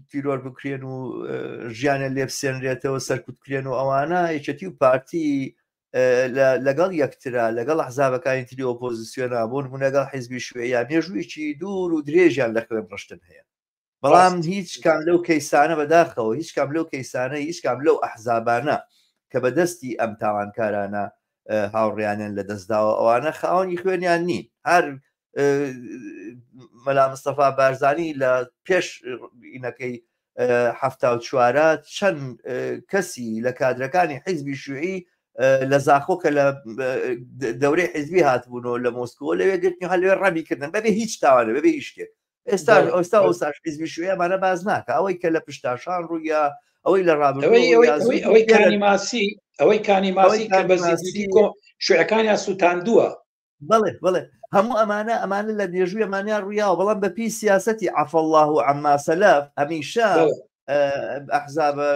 تیرۆر بکرێن و ژیانە لێپسێنرێتەوە سەرکوتکرێن و ئەوانە یەکێتی و پارتی لەگەڵ یەکترا لەگەڵ حزابەکانی تری ئۆپۆزیسیۆنا بۆن بوونەگەڵ حیزبی شوێ یا مێژوویی دوور و درێژیان لە خوێن ڕشتن هەیە بەڵام هیچ کام لەو کەیسانە بەداخەوە هیچ کام لەو کەیسانە هیچ کام لەو ئەحزابانە کە بەدەستی ئەم تاوانکارانە هاوڕیانیان لە دەستداوە ئەوانە خاوەنی خوێنیان نین هەر مەلا مستەفا بارزانانی لە پێش ئینەکەی هەفتا و چوارە چەند کەسی لە کادرەکانی حیزبی شوعی لە زاخۆ کە لە دەورەی حزبی هاتبوون و لە مۆسکۆ لەوێ گرتنی هە لەوێ ڕەبی کردن بەبێ هیچ تاوانە بەبێ هیچ شتێک ئێستا ئەوستا ئەوساش حیزبی شوێ مانە باز ناکە ئەوەی کە لە پشتاشان ڕوویە ئەوەی لە ڕابەوەی کانی ماسی ئەوەی کانی ماسی کە بەزیدی کۆ شوێەکانیان سووتاندووە بڵێ بڵێ هەموو ئەمانە ئەمانە لە مێژووی ئەمانیان ڕویاوە بەڵام بەپی سیاستی عفلله و ئەماسەلف هەمیشە ئەحزابە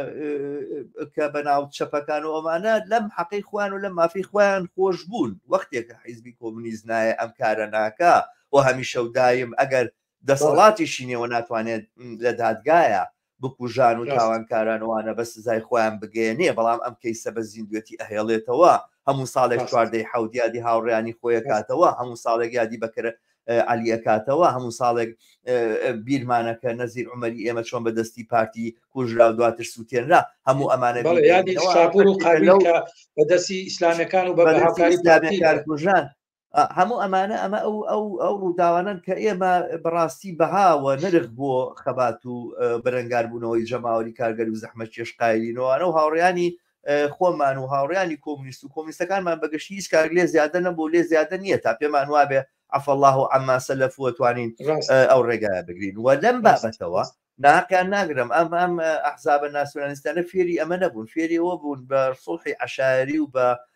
کە بەناو چەپەکان و ئەمانە لەم حەقی خوان و لە مافی خۆیان خۆش بوون وەختێکە حیزبی کۆمونیست نایە ئەم کارە ناکە و هەمیشە و دایم ئەگەر دەسەڵاتی شینەوە ناتوانێت لە دادگایە بکوژان و تاوانکارانوانە بە سزای خۆیان بگەێنێ بەڵام ئەم کەیسە بە زیندوێتی ئەهێڵێتەوە هەموو ساڵێک چواردەی حودیادی هاوڕیانی خۆیەکاتەوە هەموو ساڵێک یادی بەکرە عەلی ئەکاتەوە هەموو ساڵێک بیرمانە کە نەزیر عومەری ئێمە چۆن بە دەستی پارتی کوژرا و دواتر سووتێنرا هەموو ئەمانە بە دەستی ئیسلامەکان و بەکارژان هەموو ئەمانە ئەمە ئەو ئەو ئەو ڕووداوانن کە ئێمە بەڕاستی بەهاوە نرخ بۆ خەبات و بەرەنگاربوونەوەی جەماوەری کارگەر و زەحمە چێشقایلینەوەوانە و هاوڕیانی خۆمان و هاوڕیانی کۆمنیست و کۆمنیستەکانمان بەگەشتی هیچ کارک لێ زیادە نەبوو لێ زیادە نییە تا پێمان وابێ عفە الله و عما سلف وتوانین ئەو ڕێگایە بگرین و لەم بابەتەوە ناقیان ناگرم ئەم ئەم ئەحزابە ناسیۆنالیستانە فێری ئەمە نەبوون فێریەوە بوون بە سڵحی عشاری و بە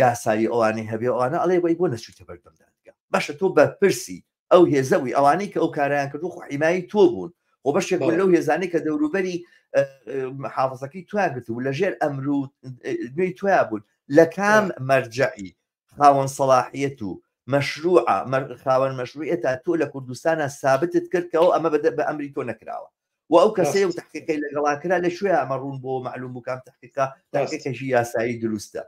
یاسایی ئەوانەی هەبێ ئەوانە ئەڵێ وەی بۆ نەچوویتە بەردەم دادگا باشە تۆ بەرپرسی ئەو هێزە بووی ئەوانەی کە ئەو کارایان کردو خۆ حیمایی تۆ بوون خۆ بەشێک لەو هێزانەی کە دەوروبەری حافظەکەی تویان گرت بوو لە ژێر ئەمرو نوێی تویا بوون لە کام مەرجعی خاوەن سەڵاحیەت و مەشروع خاوەن مەشروعە تۆ لە کوردستانە سابتت کرد کەەوە ئەمە بە ئەمری تۆ نەکراوە و ئەو کەسەیە و تحقیقی لەگەڵا کرا لە شوێ ئەمە ڕوون بۆ معلوم بکەم تحقیقا تاکەکەژی یاسایی دروستە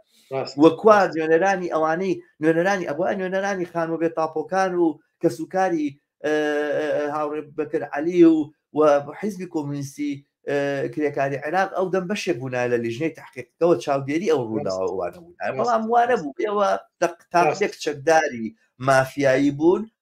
وەکوا نوێنەرانی ئەوانەی نوێنەرانی ئەوە نوێنەرانی خانوە بێ تاپۆکان و کەسوکاری هاوڕێ بەکر علی و و حیزبی کۆمونیستی کرێکاری عێراق ئەو دەم بەشێک بوونا لە لیژنەی تحقیقەوە چاودێری ئەو ڕووداوانە بوون بەڵام وارە بوو ئێوە تاقێک چەکداری مافیایی بوون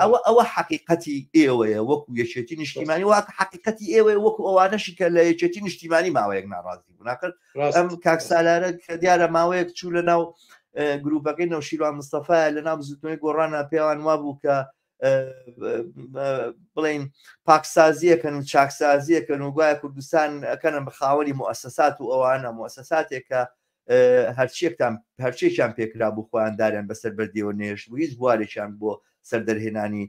ئەوە ئەوە حقیقەتی ئێوەیە وەکو یەکێتی نیشتیمانی واکە حقیقەتی ئێوەیە وەکو ئەوانەشی کە لە یەکێتی نیشتیمانی ماوەیەک ناڕازی بووناکەن ئەم کاکسالارە کە دیارە ماوەیەک چوو لە ناو گروپەکەی نەوشیروان مستەفاە لە ناو بزوتنەوەی گۆڕانە پێوان وا بوو کە بڵین پاکسازیەکەن و چاکسازیەکەن و گوایە کوردستان ئەەکەنم بە خاوەری موسسات و ئەوانە موسساتێکە هەرچیەکتان هەرچێکیان پێکرا بوو خۆیان داریان بەسەر بەردیەوە نێشت بوو هیچ بوارێکیان بۆ سەر دەرهێنانی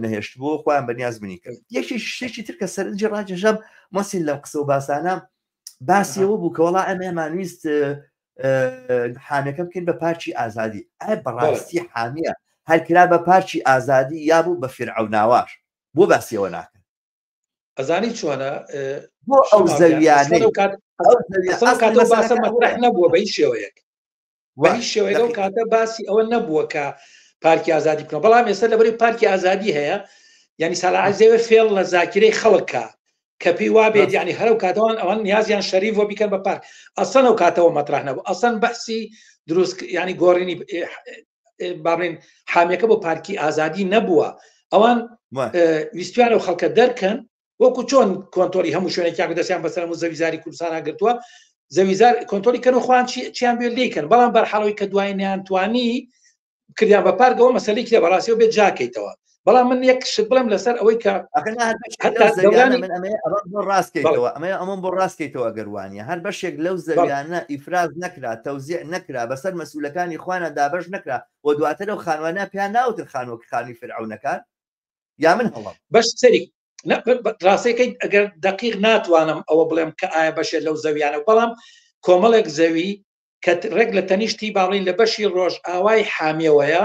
نەهێشت بۆ خۆیان بەنیاز منی کرد یەکی شتێکی تر کە سەرنجی ڕاکێشم مەسیل لەم قسە و باسانە باسیەوە بوو کەوەڵا ئەمێمانویست حامەکە بکەین بە پارچی ئازادی ئە بەڕاستی حامیە هەرکرا بە پارچی ئازادی یابوو بە فرعوناواش بۆ باسیەوە ناکەن ئەزانی چۆنە بۆ ئەو زەویانە نەبووە بە هیچ شێوەیەک وای شێوەیە لەو کاتە باسی ئەوە نەبووە کە پارکی ئازادی بکەن بەڵام ئێستا لەبەری پارکی ئازادی هەیە ینی ساڵعزیێوە فێڵ لە زاکرەی خەڵکە کە پێی وابێت ینی هەرو کاتەوان ئەوان نیازیان شەریف بۆ بیکەن بە پارک ئەسەن و کاتەوە مەترح نەبوو ئەسەن بەسی دروست ینی گۆڕینی باڵێن حامیەکە بۆ پارکی ئازادی نەبووە ئەوان ویستویان و خەڵکە دەرکەن وەکو چۆن کۆنتۆری هەموو شوێنێکیان دەستیان بەسەر و زەویزاری کوردستانە گرتووە زەویزار کۆنتۆری کەن و خوان چیان بێ لیکەن بەڵام بەرحاڵەوەی کە دوای نیان توانی کردیان بە پارگەوە مەسلێکی لە بەڕاستەوە بێت جاکەیتەوە بەڵام من یەک شت بڵێم لەسەر ئەوەی کە ڕاستکەیتەوە ئەمە ئەمەم بۆ ڕاستکەیتەوە گەروانە هەر بەشێک لەو زەویانە ئیفراز نەکرا تەوزیع نەکرا بەسەر مەسوولەکانی خوانە دابش نەکرا و دواتر و خانوانە پێیان ناوتر خانوەک خانی فرعونەکان یا من هەڵم بەش سەری ڕاستەکەی ئەگەر دقیق ناتوانم ئەوە بڵێم کە ئایا بەشێت لەو زەویانە بەڵام کۆمەڵێک زەوی کە ڕێک لە تەنیشتی باڵین لە بەشی ڕۆژ ئاوای حامیەوەیە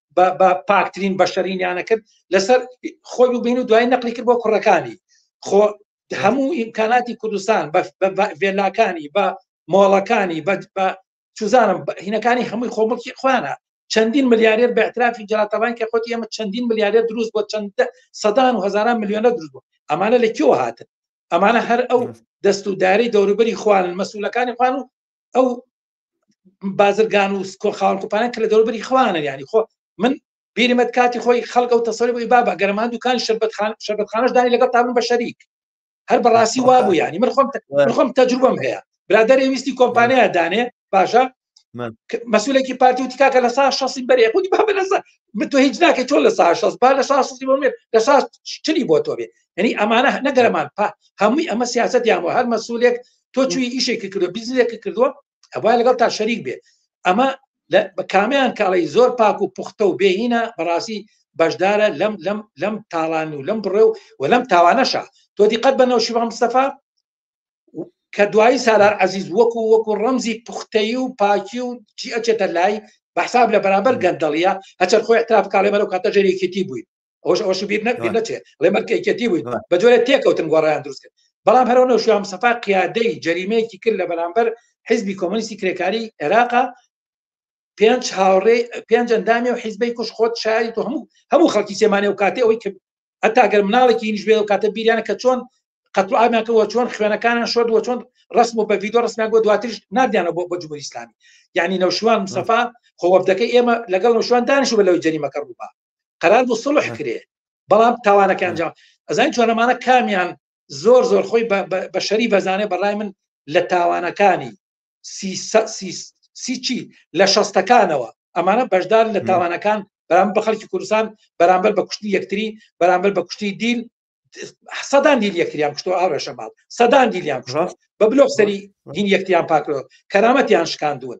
بە پاکترین بەشەرینیانە کرد لەسەر خۆی ببین و دوای نەقلی کرد بۆ کوڕەکانی خۆ هەموو ئیمکاناتی کوردستان بە ڤێلاکانی بە مۆڵەکانی بە چزانم هینەکانی هەمووی خۆمڵکی خوانە چەندین ملیارێر بەعترافی جاتەبان کە خۆتی ئەمە چەندین ملیارێر دروست بۆ چەند سەدان و هزاران میلیۆنە دروست بوو ئەمانە لە کێوە هاتن ئەمانە هەر ئەو دەست و داری دەوروبەری خوانن مەسوولەکانی خوان و ئەو بازرگان و سکۆ خاڵ کوپانە کە لە دەوروبەری خوانە ینی خۆ من بیرمەت کاتی خۆی خەڵک و تەسەری بووی بابا گەرمان دوکان شربەتخان شربەتخانش دانی لەگەڵ تابن بە شەریک هەر بەڕاستی وا بوو ینی من خۆم خۆم تەجروبم هەیە برادەر ویستی کۆمپانیا دانێ باشە مەسولێکی پارتی و تکاکە لە سا شەسی بەرێ خودی با لەسا من تۆ هیچ ناکە تۆ لە سا شەس با لە سا شەسی بۆ مێت لە سا چلی بۆ تۆ بێ یعنی ئەمانە نەگەرەمان پا هەمووی ئەمە سیاست یان هەر مەسولێک تۆ چوی ئیشێکی کردو بیزنێکی کردووە ئەوە لەگەڵ تا شەریک بێ ئەمە بە کامیان کاڵی زۆر پاک و پوختە و بێهینە بەڕاستی بەشدارە لەم لەم لەم تاڵان و لەم بڕێ و و لەم تاوانەشە تۆ دیقەت بەنەوە شیوان مستەفا کە دوایی سالار عزیز وەکو وەکو ڕەمزی پوختەی و پاکی و چی ئەچێتە لای بەحساب لە بەرامبەر گەندەڵیە هەچەر خۆی احتراف کاڵێ بەرەو کاتە ژێرێکیتی بووین ئەوش ئەوش بیر نەچێت ڵێ مەرکێکەتی بووین بە جۆرە تێکەوتن گۆڕیان دروست کرد بەڵام هەرەوە شوام سەفا قیادەی جەریمەیەکی کرد لە بەرامبەر حزبی کۆمەنیستی کرێکاری عێراقا پێنج هاوڕێ پێنج ئەندامی و حیزبەی کوش خۆت شاری تۆ هەموو هەموو خەڵکی سێمانێ و کاتی ئەوەی کرد هەتا گەر مناڵێکی نیشبێ و کاتە بیریانە کە چۆن قەتڵ ئاماکەەوە چۆن خوێنەکانیان شۆردووە چۆن ڕسم و بە ڤیددیو ڕسمیان بۆ دواترش نادیانە بۆ بە جمهوری ئسلامی یعنی نەوشوان مسەفا خۆوەبدەکە ئێمە لەگەڵ نەوشوان دانیش بە لەوەی جەریمەکە ڕووبا قرار بوو سڵح کرێ بەڵام تاوانەکان جا ئەزای جۆنەمانە کامیان زۆر زۆر خۆی بە شەری بەزانێ بەڕای من لە تاوانەکانی سیچی لە شەستەکانەوە ئەمانە بەشدار لە تاوانەکان بەرام بە خەڵکی کوردستان بەرامبەر بە کوشتی یەکتری بەرامبەر بە کوشتی دیل سەدان دیل یەکتریان کوشتۆ ئاڕێشە ماڵ سەدان دیلیان کوشڕاست بە بلۆک سەری دین یەکتیان پاکرۆ کەرامەتیان شکاندون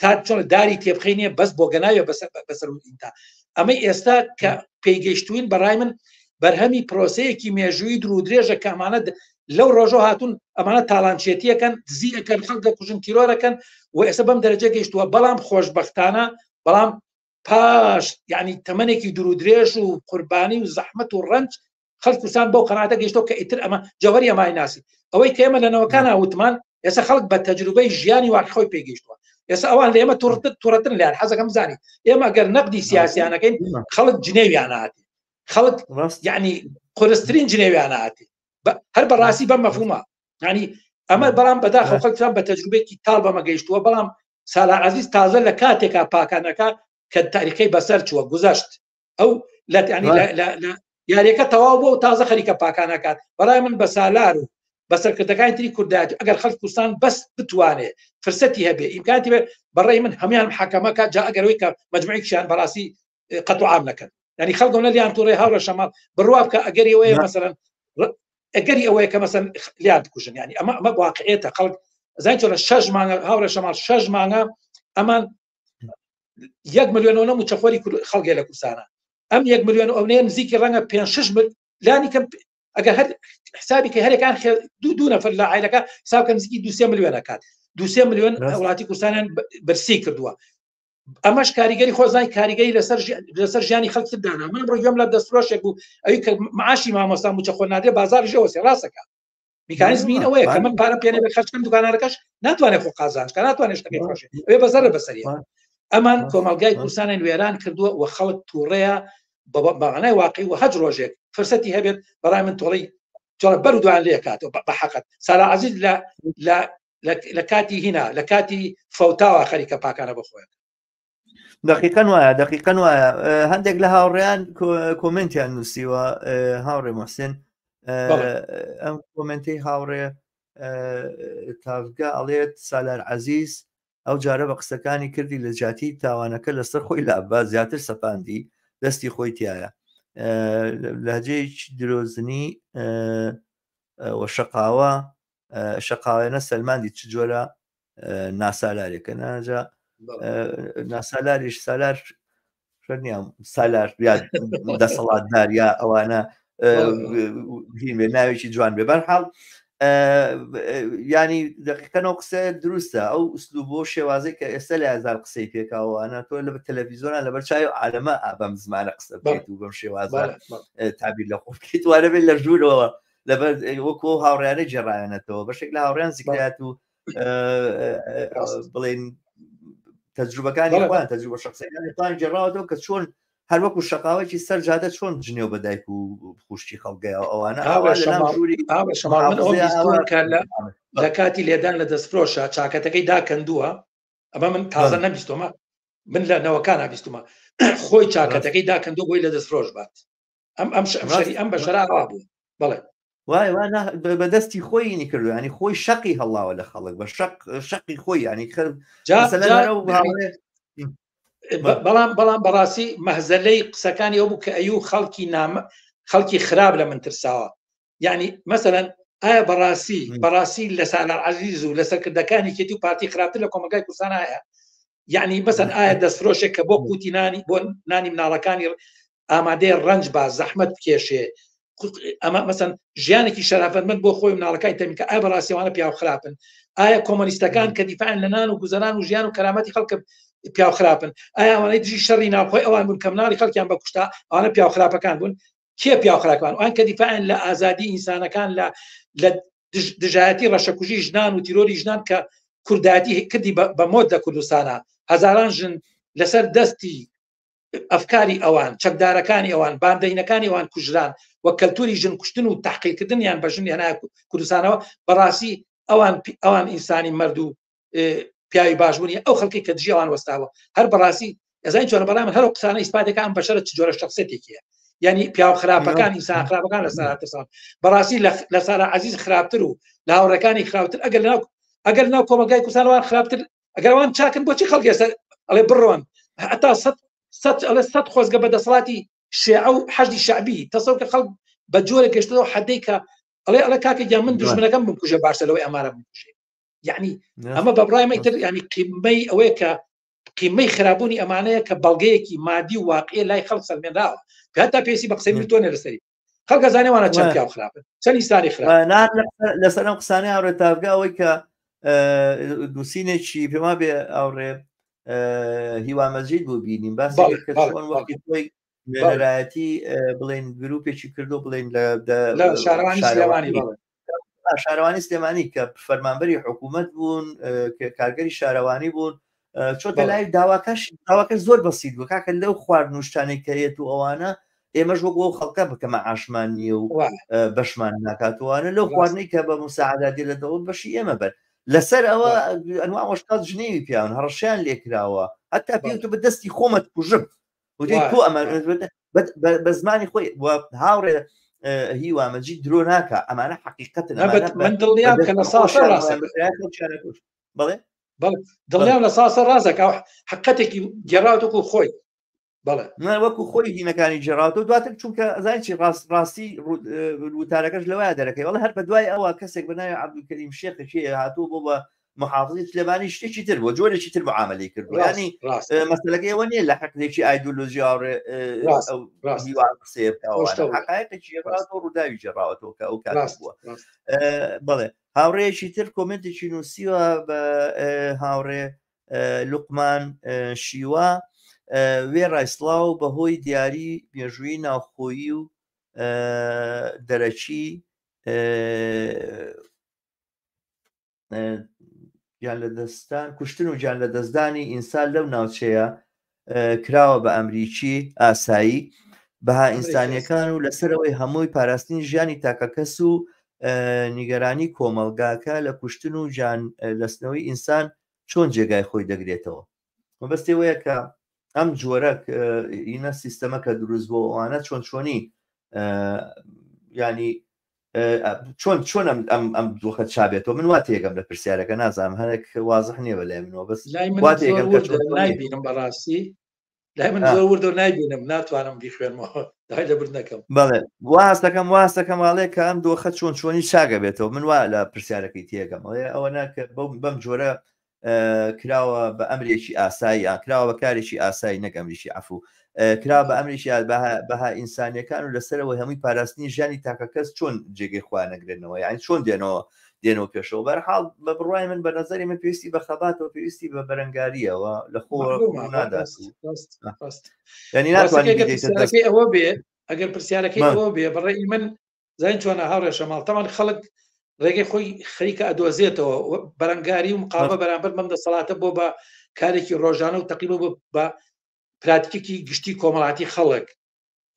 تا چۆن داری تێبخی نیە بەس بۆ گەناوێ بەسەر بەسەر ئینتا ئەمە ئێستا کە پێیگەشتوین بەڕای من بەرهەمی پرۆسەیەکی مێژووی درو درێژە کە ئەمانە لەو ڕۆژۆ هاتون ئەمانە تاڵانچێتیەکەن دزیەکەن خەڵک دەکوژن تیرۆرەکەن و ئێستا بەم دەرەجە گەشتووە بەڵام خۆشببختانە بەڵام پاش یعنی تەمەێکی درو درێژ و قوربانی و زەحمت و ڕنج خەڵک کوردستان بەو قەناتە گەشتەوە کە ئیتر ئەمە جەوەری ئەمای ناسی ئەوەی کە ئێمە لەنەوەکان وتمان ئێستا خەڵک بە تەجروبەی ژیانی واقعۆی پێگەیشتووە ئێستا ئەوان لە ئێمە توڕتر توڕتر لەیان حەزەکەم زانی ئێمە گەر نەقدی سیاسیانەکەین خەڵک جنێویاناتی خەڵک یعنی قرسترین جنێویاناتی هەر بەڕاستی بەم مەفوما ینی ئەمە بەڵام بەدا خەڵکتان بە تەجروبێکی تاڵ بەمە گەیشتووە بەڵام سالا عزیز تازە لە کاتێکا پاکانەکە کە تاریخەکەی بەسەر چووە گوزەشت ئەو لە یاریەکە تەواو بۆ و تازە خەریکە پاکانەکات بەڵای من بە سالار و بە سەرکردەکانی تری کوردات ئەگەر خەل کوردستان بەس بتوانێت فرسەتی هەبێ ئیمکانتی بێت بەڕێ من هەمان حکەمەکە جا ئەگەرەوەی کە مجموعێکیان بەڕاستی قەتوعام نەکەن ینی خەڵگە نە لیان تووڕێ هاوڕە شەماڵ بڕوا بکە ئەگەری ئەوەیە مەسەرەن ئەگەری ئەوەیە کە مەسەن لیان کوژن ینی ئەمە ئەمە واقعێتە خەڵک زای چۆنە شەش مانگە هاوڕە شەماڵ شەش مانگە ئەمان یەک ملیۆنەوە موچەخۆری خەڵگێ لە کوردستانە ئەم یەک ملیۆن ئەونەیە نزیکی ڕەنگە پێ شش لانی کەم ئەگە هەر حسابی کە هەرێکان دوو دوو نەفر لە عیلەکە حسابکە نزیکی دوسێ ملیۆنە کات دوسێ ملیۆن وڵاتی کوردستانیان برسی کردووە ئەمەش کاریگەری خۆزای کاریگەری لەسەر لەسەر ژیانی خەڵکی دانا من ڕۆژم لە دەستفرۆشێک بوو ئەوی کە معاشی مامۆستا موچە خۆ نادێ بازار ژەوەسێ ڕاستەکە میکانیزم این ئەوەیە کە من پارە پێێ بە خەرچکەم دوکانەکەش ناتوانێت خۆ قازانج کە ناتوانێت شتەکەی خۆشێ ئەوێ بەزەرە بەسەری ئەمان کۆمەلگای کوردستانیان وێران کردووە و خەڵک تووڕەیە بەغنای واقعی و هەج ڕۆژێک فرسەتی هەبێت بەڕای من تۆڵی جۆڵە بەر دوان لێکاتەوە بە حەقت سارا عزیز لە لە لە کاتی هینا لە کاتی فەوتاوە خەریکە پاکانە بخۆێت دقیقەن وایە دقیقەن وایە هەندێک لە هاوڕێیان کۆمنتیان نووسیوە هاوڕێ محسن ئەم کۆمنتی هاوڕێ تاڤگە ئەڵێت سالار عزیز ئەو جارە بە قسەکانی کردی لە جاتی تاوانەکە لەسەر خۆی لابا زیاتر سەپاندی دەستی خۆی تایە لەجێ درۆزنی وە شقاوە شەقاوێنە سەلماندی چ جۆرە ناسالارێکە ناجا ناسالاریش سالار نیام سالار دەسەڵاتدار یا ئەوانە هیمێ ناوێکی جوان بێ بەرحاڵ ینی دقیقەەوە قسە دروستە ئەو ئوسلوب بۆ شێوازی کە ئێستا لە هزار قسەی پێکاوانە تۆ لە تەلەڤیزۆنان لەبەر چای و عالەمە ئابم زمانە قسە بێت و بەم شێوازە تابیر لە خۆ بکەیت وارە بێت لە ژوورەوە لەبەر وەکو هاوڕیانە جێڕایەنەتەوە بەشێک لە هاوڕیان زیکرات و بڵێن تەجروبەکانی خوان تەجروبە شخصەکانی خوان جێڕاوەوە کە چۆن هەر وەکو شقاوێکی سەر جادە چۆن جنێو بە دایک و خوشتی خەڵگەیە ئەوانە لە کاتی لێدان لە دەستفرۆشە چاکەتەکەی داکەندووە ئەمە من تازە نەبیستۆمە من لە نەوەکان بیستمە خۆی چاکەتەکەی داکەندو بۆی لە دەستفرۆش بات ئەم ئەم شەری ئەم بەشەرا ئەوا بوو بڵێ وای وا بەدەستی خۆی نی کردو ینی خۆی شەقی هەڵاوە لە خەڵک بە شەق شەقی خۆی ینی خەر بەڵام بەڵام بەڕاستی مەهزەلەی قسەکانی ئەو بوو کە ئەو خەڵکی نامە خەڵکی خراپ لە من ترساوە یعنی مەسەەن ئایا بەڕاستی بەڕاستی لە سالار عزیز و لە سەرکردەکانی کێتی و پارتی خراپتر لە کۆمەگای کوردستان هەیە یعنی بەسەن ئایا دەستفرۆشێک کە بۆ قوتی نانی بۆ نانی مناڵەکانی ئامادەی ڕنج با زەحمت کێشێ ئەمە مەسەن ژیانێکی شەرافەت من بۆ خۆی مناڵەکانی تەمیکە ئای بەڕاستیوانە پیاو خراپن ئایا کۆمەلیستەکان کە دیفاعن لە نان و گوزەران و ژیان و کەرامەتی خەڵکە پیاو خراپن ئایاوانەی دژی شەڕی ناوخۆی ئەوان بوون کە مناڵی خەڵکیان بە کوشتا ئەوانە پیاو خراپەکان بوون کێ پیاو خراپان ئەوان کە دیفاعن لە ئازادی ئینسانەکان لە لە دژایەتی ڕەشەکوژی ژنان و تیرۆری ژنان کە کورداتی کردی بە مۆت لە کوردستانە هەزاران ژن لەسەر دەستی ئەفکاری ئەوان چەکدارەکانی ئەوان باندەینەکانی ئەوان کوژران و کەلتوری ژن کوشتن و تحقیکردنیان بە ژنی هەنا کوردستانەوە بەڕاستی ئەوان ئەوان ئینسانی مردوو پیاوی باش بوونی ئەو خەڵکی کە دژیوان وەستاوە هەر بەڕاستی ئەزای چۆن بەڵام هەر قسانە ئیسپاتەکان بەشرە چ جۆرە شخصێتێکیە ینی پیاو خراپەکان ئینسان خراپەکان لە سارتەسان بەڕاستی لە سارا عزیز خراپتر و لە هاوڕەکانی خراپتر ئەگەر ناو ئەگەر ناو کۆمەلگای کوسانوان خراپتر ئەگەروان چاکن بۆچی خەڵگەێستا ئەڵێ بڕۆن هەتا سە سە ئەڵێ سە خۆزگە بە دەسەڵاتی شێع و حەجدی شعبی تەسەڵ کە خەڵک بە جۆرە گەشتەوە حەدەی کە ئەڵێ ئەڵە کاکە گیان من دژمنەکەم بکوژە باشە لەوەی ئەمارە بکوژێ یعنی ئەمە بە بڕای مەتر ینی قیمەی ئەوەیە کە قیمەی خراببوونی ئەمانەیە کە بەڵگەیەکی مادی و واقعی لای خەڵ سەلمێنراوە هەتا پێسی بە قسەی تۆ نەرسەری خەڵکە زانێوانە چەند پیا خراپ چەند ئیسانی خراپ لەسەر ئەم قسانە ئاڕێ تاگا ئەوەی کە نووسینێکی پێما بێ ئاڕێ هیوا مەزید بوو بینیم باس نوێنەرایەتی بڵین گرروپێکی کردو بڵین لە شارەوانی سلێمانی کە فەرمانبەری حکوومەت بوون کارگەری شارەوانی بوون چۆتە لای داواکەش داواکە زۆر بەسیید بوو کاکە لەو خوارد نوشتانی کەێت و ئەوانە ئێمەش وە بۆ خەڵکە بکەمە ئاشمان نیە و بەشمان ناکاتوانە لەو خوارنەی کە بە مساعدادی لە دەوڵ بەشی ئێمە بەر لەسەر ئەوە ئەنواوەشتات ژنێوی پیاون هەڕشیان لێکراوە هەتا پێ تو بە دەستی خۆمەت کوژم کۆ ئەمە بە زمانی خۆی هاوڕێ هیوامەجی درۆ ناکە ئەمانە حقیقەت من دڵنیا بکە لە ساسە بڵێ دڵنیام لە ساسە ڕازەکە حقەتێکی گەڕاتوکو خۆی بەڵێ من وەکو خۆی هینەکانی جێراوەوە دواتر چونکە ئەزای چی ڕاست ڕاستی وتارەکەش لەوەیە دەرەکەی وڵە هەر بە دوای ئەوە کەسێک بەناوی عبدکەریم شێخەکێ هاتوو بۆ بە محافزی سلێمانی شتێکی تر بۆ جۆرێکی تر معاملی کردو ینی مەسلەکە ئەوە نیە لە حقێکی ئایدۆلۆژی ئاڕێ ڕووداوی جێڕاوەەوە کە ئەو کار بووە بڵێ هاوڕێکی تر کۆمنتێکی نووسیوە بە هاوڕێ لوقمان شیوە وێ ڕایسلااو بەهۆی دیاری مێژووی ناوخۆیی و دەرەکی گیان لە دەستان کوشتن و گیان لە دەستدانی ئینسان لەو ناوچەیە کراوە بە ئەمریکی ئاسایی بەها ئینسانیەکان و لەسەرەوەی هەمووی پاراستنی ژیانی تاکەکەس و نیگەرانی کۆمەلگاکە لە کوشتن و جان لەسنەوەی ئینسان چۆن جێگای خۆی دەگرێتەوە مەبەستی وەیە کە ئەم جۆرە ئینە سیستەمەکە دروست بۆ ئەوانە چۆن چۆنی ینی چۆن چۆن ئەم ئەم دۆخە چابێتەوە من وا تێگەم لە پرسیارەکە نازانم هەرێک وازح نییە بە لای منەوە بەس نایبینم بەڕاستی لای من زۆر وردە نایبینم ناتوانم بیخوێنمەوە دای لە بر نەکەم بەڵێ واستەکەم واستەکەم واڵێ کە ئەم دۆخە چۆن چۆنی چاگە بێتەوە من وا لە پرسیارەکەی تێگەمەوەی ئەوە ناکە بەم جۆرە کراوە بە ئەمرێکی ئاسای یا کراوە بە کارێکی ئاسای نەک ئەمریکی عفو کرا بە ئەمریکی بەها ئینسانیەکان و لەسەرەوەی هەمووی پاراستنی ژانی تاکە کەس چۆن جێگەی خوا نەگرێنەوە یان چۆن دێنەوە دێنەوە پێشەوە بەرحاڵ بە بڕای من بە نظری من پێویستی بە خەباتەوە پێویستی بە بەرەنگاریەوە لە خۆ ئەوە بێ ئەگەر پرسیارەکەی ئەوە بێ بڕێ من زین چۆنە هاوڕێ شەماڵ تەمان خەڵک ڕێگەی خۆی خەریکە ئەدۆزێتەوە بەرەنگاری و مقاوە بەرامبەر بەم دەسەڵاتە بۆ بە کارێکی ڕۆژانە و تەقیبە بە پراتکێکی گشتی کۆمەڵاتی خەڵک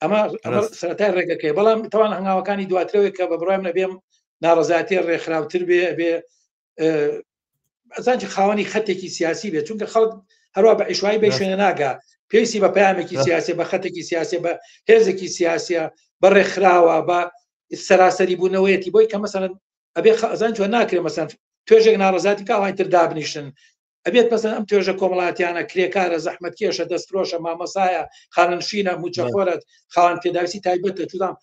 ئەمە سەرای ڕێگەکەی بەڵام تەوان هەنگاوەکانی دواترەوەی کە بە بڕای منە بێم ناڕزاتی ڕێکخراوتر بێ بێ ئەزانجی خاوەنی خەتێکی سیاسی بێت چونکە خەڵک هەروە بە عیشوایی بە شوێنە ناگا پێویستی بە پامێکی سیاسی بە خەتێکی سیاسی بە هێزێکی سیاسە بە ڕێکخراوە بە سەراسەری بوونەوەیەتی بۆی کە مەسەن ئەبێ خەزان جوە ناکرێ مەسەن توێژێک ناڕزاتی کاوانتر دابنیشن ئەبێت پەسەن ئەم توێژە کۆمەڵاتیانە کرێکارە زەحمەت کێشە دەستفرۆشە مامەسایە خاننشینە موچەخۆرەت خاوان پێداویستی تایبەتە چودام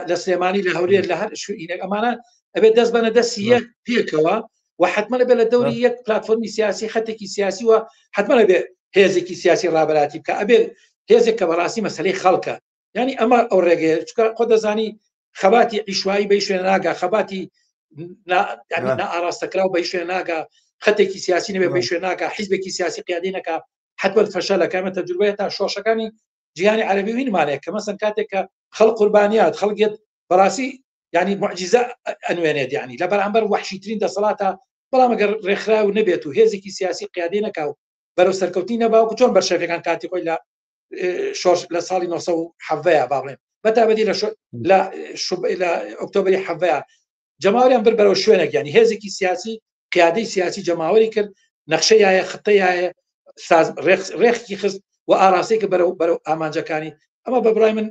لە سلێمانی لە هەولێر لە هەر شوینێک ئەمانە ئەبێت دەست بەە دەستی یەک پێکەوە و حتممە بێ لە دەوری یەک پلتفۆرمی سیاسی خەتێکی سیاسی و حتممە بێ هێزێکی سیاسی ڕابەتی بکە ئەبێت هێزێک کە بەڕاستی مەسلەی خەڵکە ینی ئەمە ئەو ڕێگەیە چکە خۆ دەزانی خەباتی ئیشوایی بە شوێن ناگا خەباتی ئاراستەکراو بە شوێن ناگا خەتێکی سیاسی نەبێ بە شوێن ناکە حیزبێکی سیاسی قیادینەکە حتبەر فەشە لەکەمە تەجروبەیە تا شۆشەکانی جیهانی عربی وینمانەیە کە مەسن کاتێک کە خەڵ قوربانیات خەڵگێت بەڕاستی ینی معجززە ئەنوێنێت ینی لە بەرامبەر وحشیترین دەسەڵاتە بەڵام ئەگەر ڕێکخراو نەبێت و هێزێکی سیاسی قیادی نەکاو بەرەو سەرکەوتی نەباوکو چۆن بەرشەفەکان کاتی خۆی لە شۆرش لە ساڵی 1970 باڵێن بەتابەتی لە لە ئۆکتۆبری حەڤەیە جەماوریان بر بەرەوە شوێنێک ینی هێزێکی سیاسی قیادەی سیاسی جەماوەری کرد نەخشەیە خطەیە ڕێخکی خست و ئاراستێکە بەرەو بەرەو ئامانجەکانی ئەمە بە برای من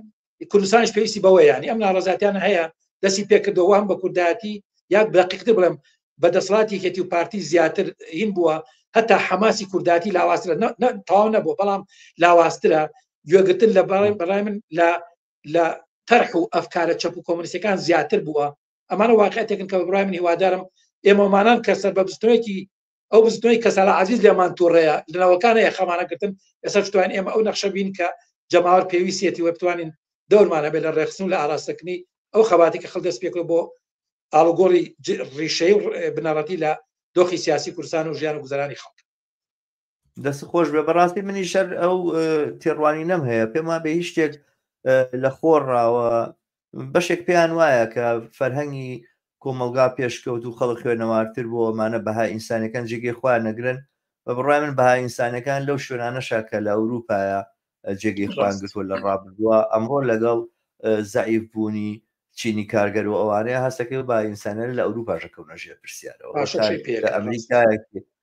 کوردستانش پێویستی بەوە ینی ئەم ناڕزاتیانە هەیە دەستی پێکردەوە هەم بە کوردایەتی یاد بەقیقتر بڵێم بە دەسڵاتی کەتی و پارتی زیاتر هین بووە هەتا حەماسی کورداتی لاواسترە تاو نەبوو بەڵام لاواسترە گوێگرتن لە باڵێن بەڕای من لە لە تەرح و ئەفکارە چەپ و کۆمنیسەکان زیاتر بووە ئەمانە واقعەتێکن کە بڕای من هیوادارم ئێمەمانان کە سەر بە بستنەوەیەکی ئەو بزنەوەی کە سالا عزیز لێمان تووڕەیە لەناوەکان هەیە خەمانەگرتن ئێستا شتوان ئێمە ئەو نەخشە بین کە جەماوەر پێویستێتی وە بتوانین دەورمان هەبێت لە ڕێخستن و لە ئاراستەکردنی ئەو خەباتی کە خەڵ دەست پێکەوە بۆ ئاڵوگۆڕی ڕیشەی و بنەڕەتی لە دۆخی سیاسی کوردستان و ژیان و گوزەرانی خەڵک دەست خۆش بێ بەڕاستی منی شەر ئەو تێڕوانی نەم هەیە پێم وابێ هیچ شتێک لە خۆڕاوە بەشێک پێیان وایە کە فەرهەنگی کۆمەلگا پێشکەوت و خەڵک خوێنەوارتر بۆ ئەمانە بەها ئینسانەکان جێگەی خۆیان نەگرن بە بڕای من بەها ئینسانەکان لەو شوێنانەشا کە لە ئەوروپایە جێگەی خوان گرتووە لە ڕابردووە ئەمڕۆ لەگەڵ زعیف بوونی چینی کارگەر و ئەوانەیە هەستەکەی با ئینسانە لە ئەوروپا ژەکەونە ژێر پرسیارەوە ئەمریکایەکی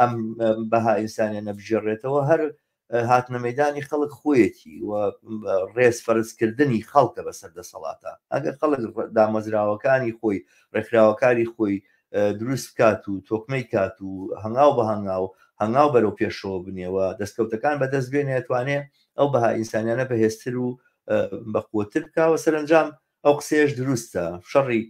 ئەم بەها ئینسانە نەبژێڕێتەوە هەر هاتنە مەدانی خەڵک خۆیەتی و ڕێز فەرزکردنی خەڵکە بەسەر دەسەڵاتە ئەگەر خەڵک دامەزراوەکانی خۆی ڕێکخراوەکانی خۆی دروست بکات و تۆکمەی کات و هەنگاو بە هەنگاو هەنگاو بەرەو پێشەوە بنێەوە دەستکەوتەکان بەدەست بێنێتوانێ ئەو بەها ئینسانیانە بەهێزتر و بەقوتر بکەوە سەرنجام ئەو قسەیەش دروستە شەڕی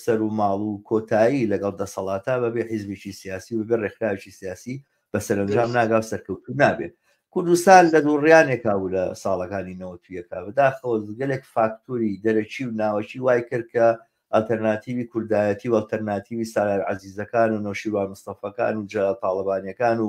سەر و ماڵ و کۆتایی لەگەڵ دەسەڵاتە بەبێ حیزبێکی سیاسی و بێ ڕێکخراوێکی سیاسی بە سەرنجام ناگا و سەرکەوتو نابێت کوردستان لە دووڕیانێکا و لە ساڵەکانی نەوەتویەکە بەداخەوە گەلێک فاکتوری دەرەکی و ناوەکی وای کرد کە ئەلتەرناتیوی کوردایەتی و ئەلتەرناتیوی سالار عزیزەکان و نەوشیروان مستەفەکان و جەلال تاڵەبانیەکان و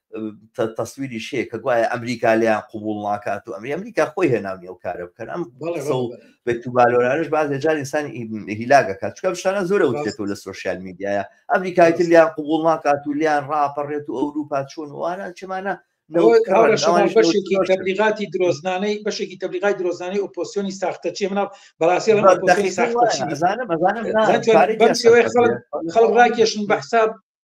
تەسویری شەیە کە گوایە ئەمریکا لیان قوبول ناکات و ئەمری ئەمریکا خۆی هێناونی ئەو کارە بکەن ئەم بەتوبالۆرانش باز لە جار ئینسان هیلاگەکات چکە شتانە زۆرە وتێتەوە لە سوۆسیال میدیایە ئەمریکای تر لیان قوبول ناکات و لیان ڕاپەڕێت و ئەوروپا چۆن وانە چمانە بەشێکی تەبلیغاتی درۆزنانەی بەشێکی تەبلیغای درۆزانەی ئۆپۆسیۆنی ساختە چی مناڵ بەڕاستی خەڵک ڕاکێشن بە حساب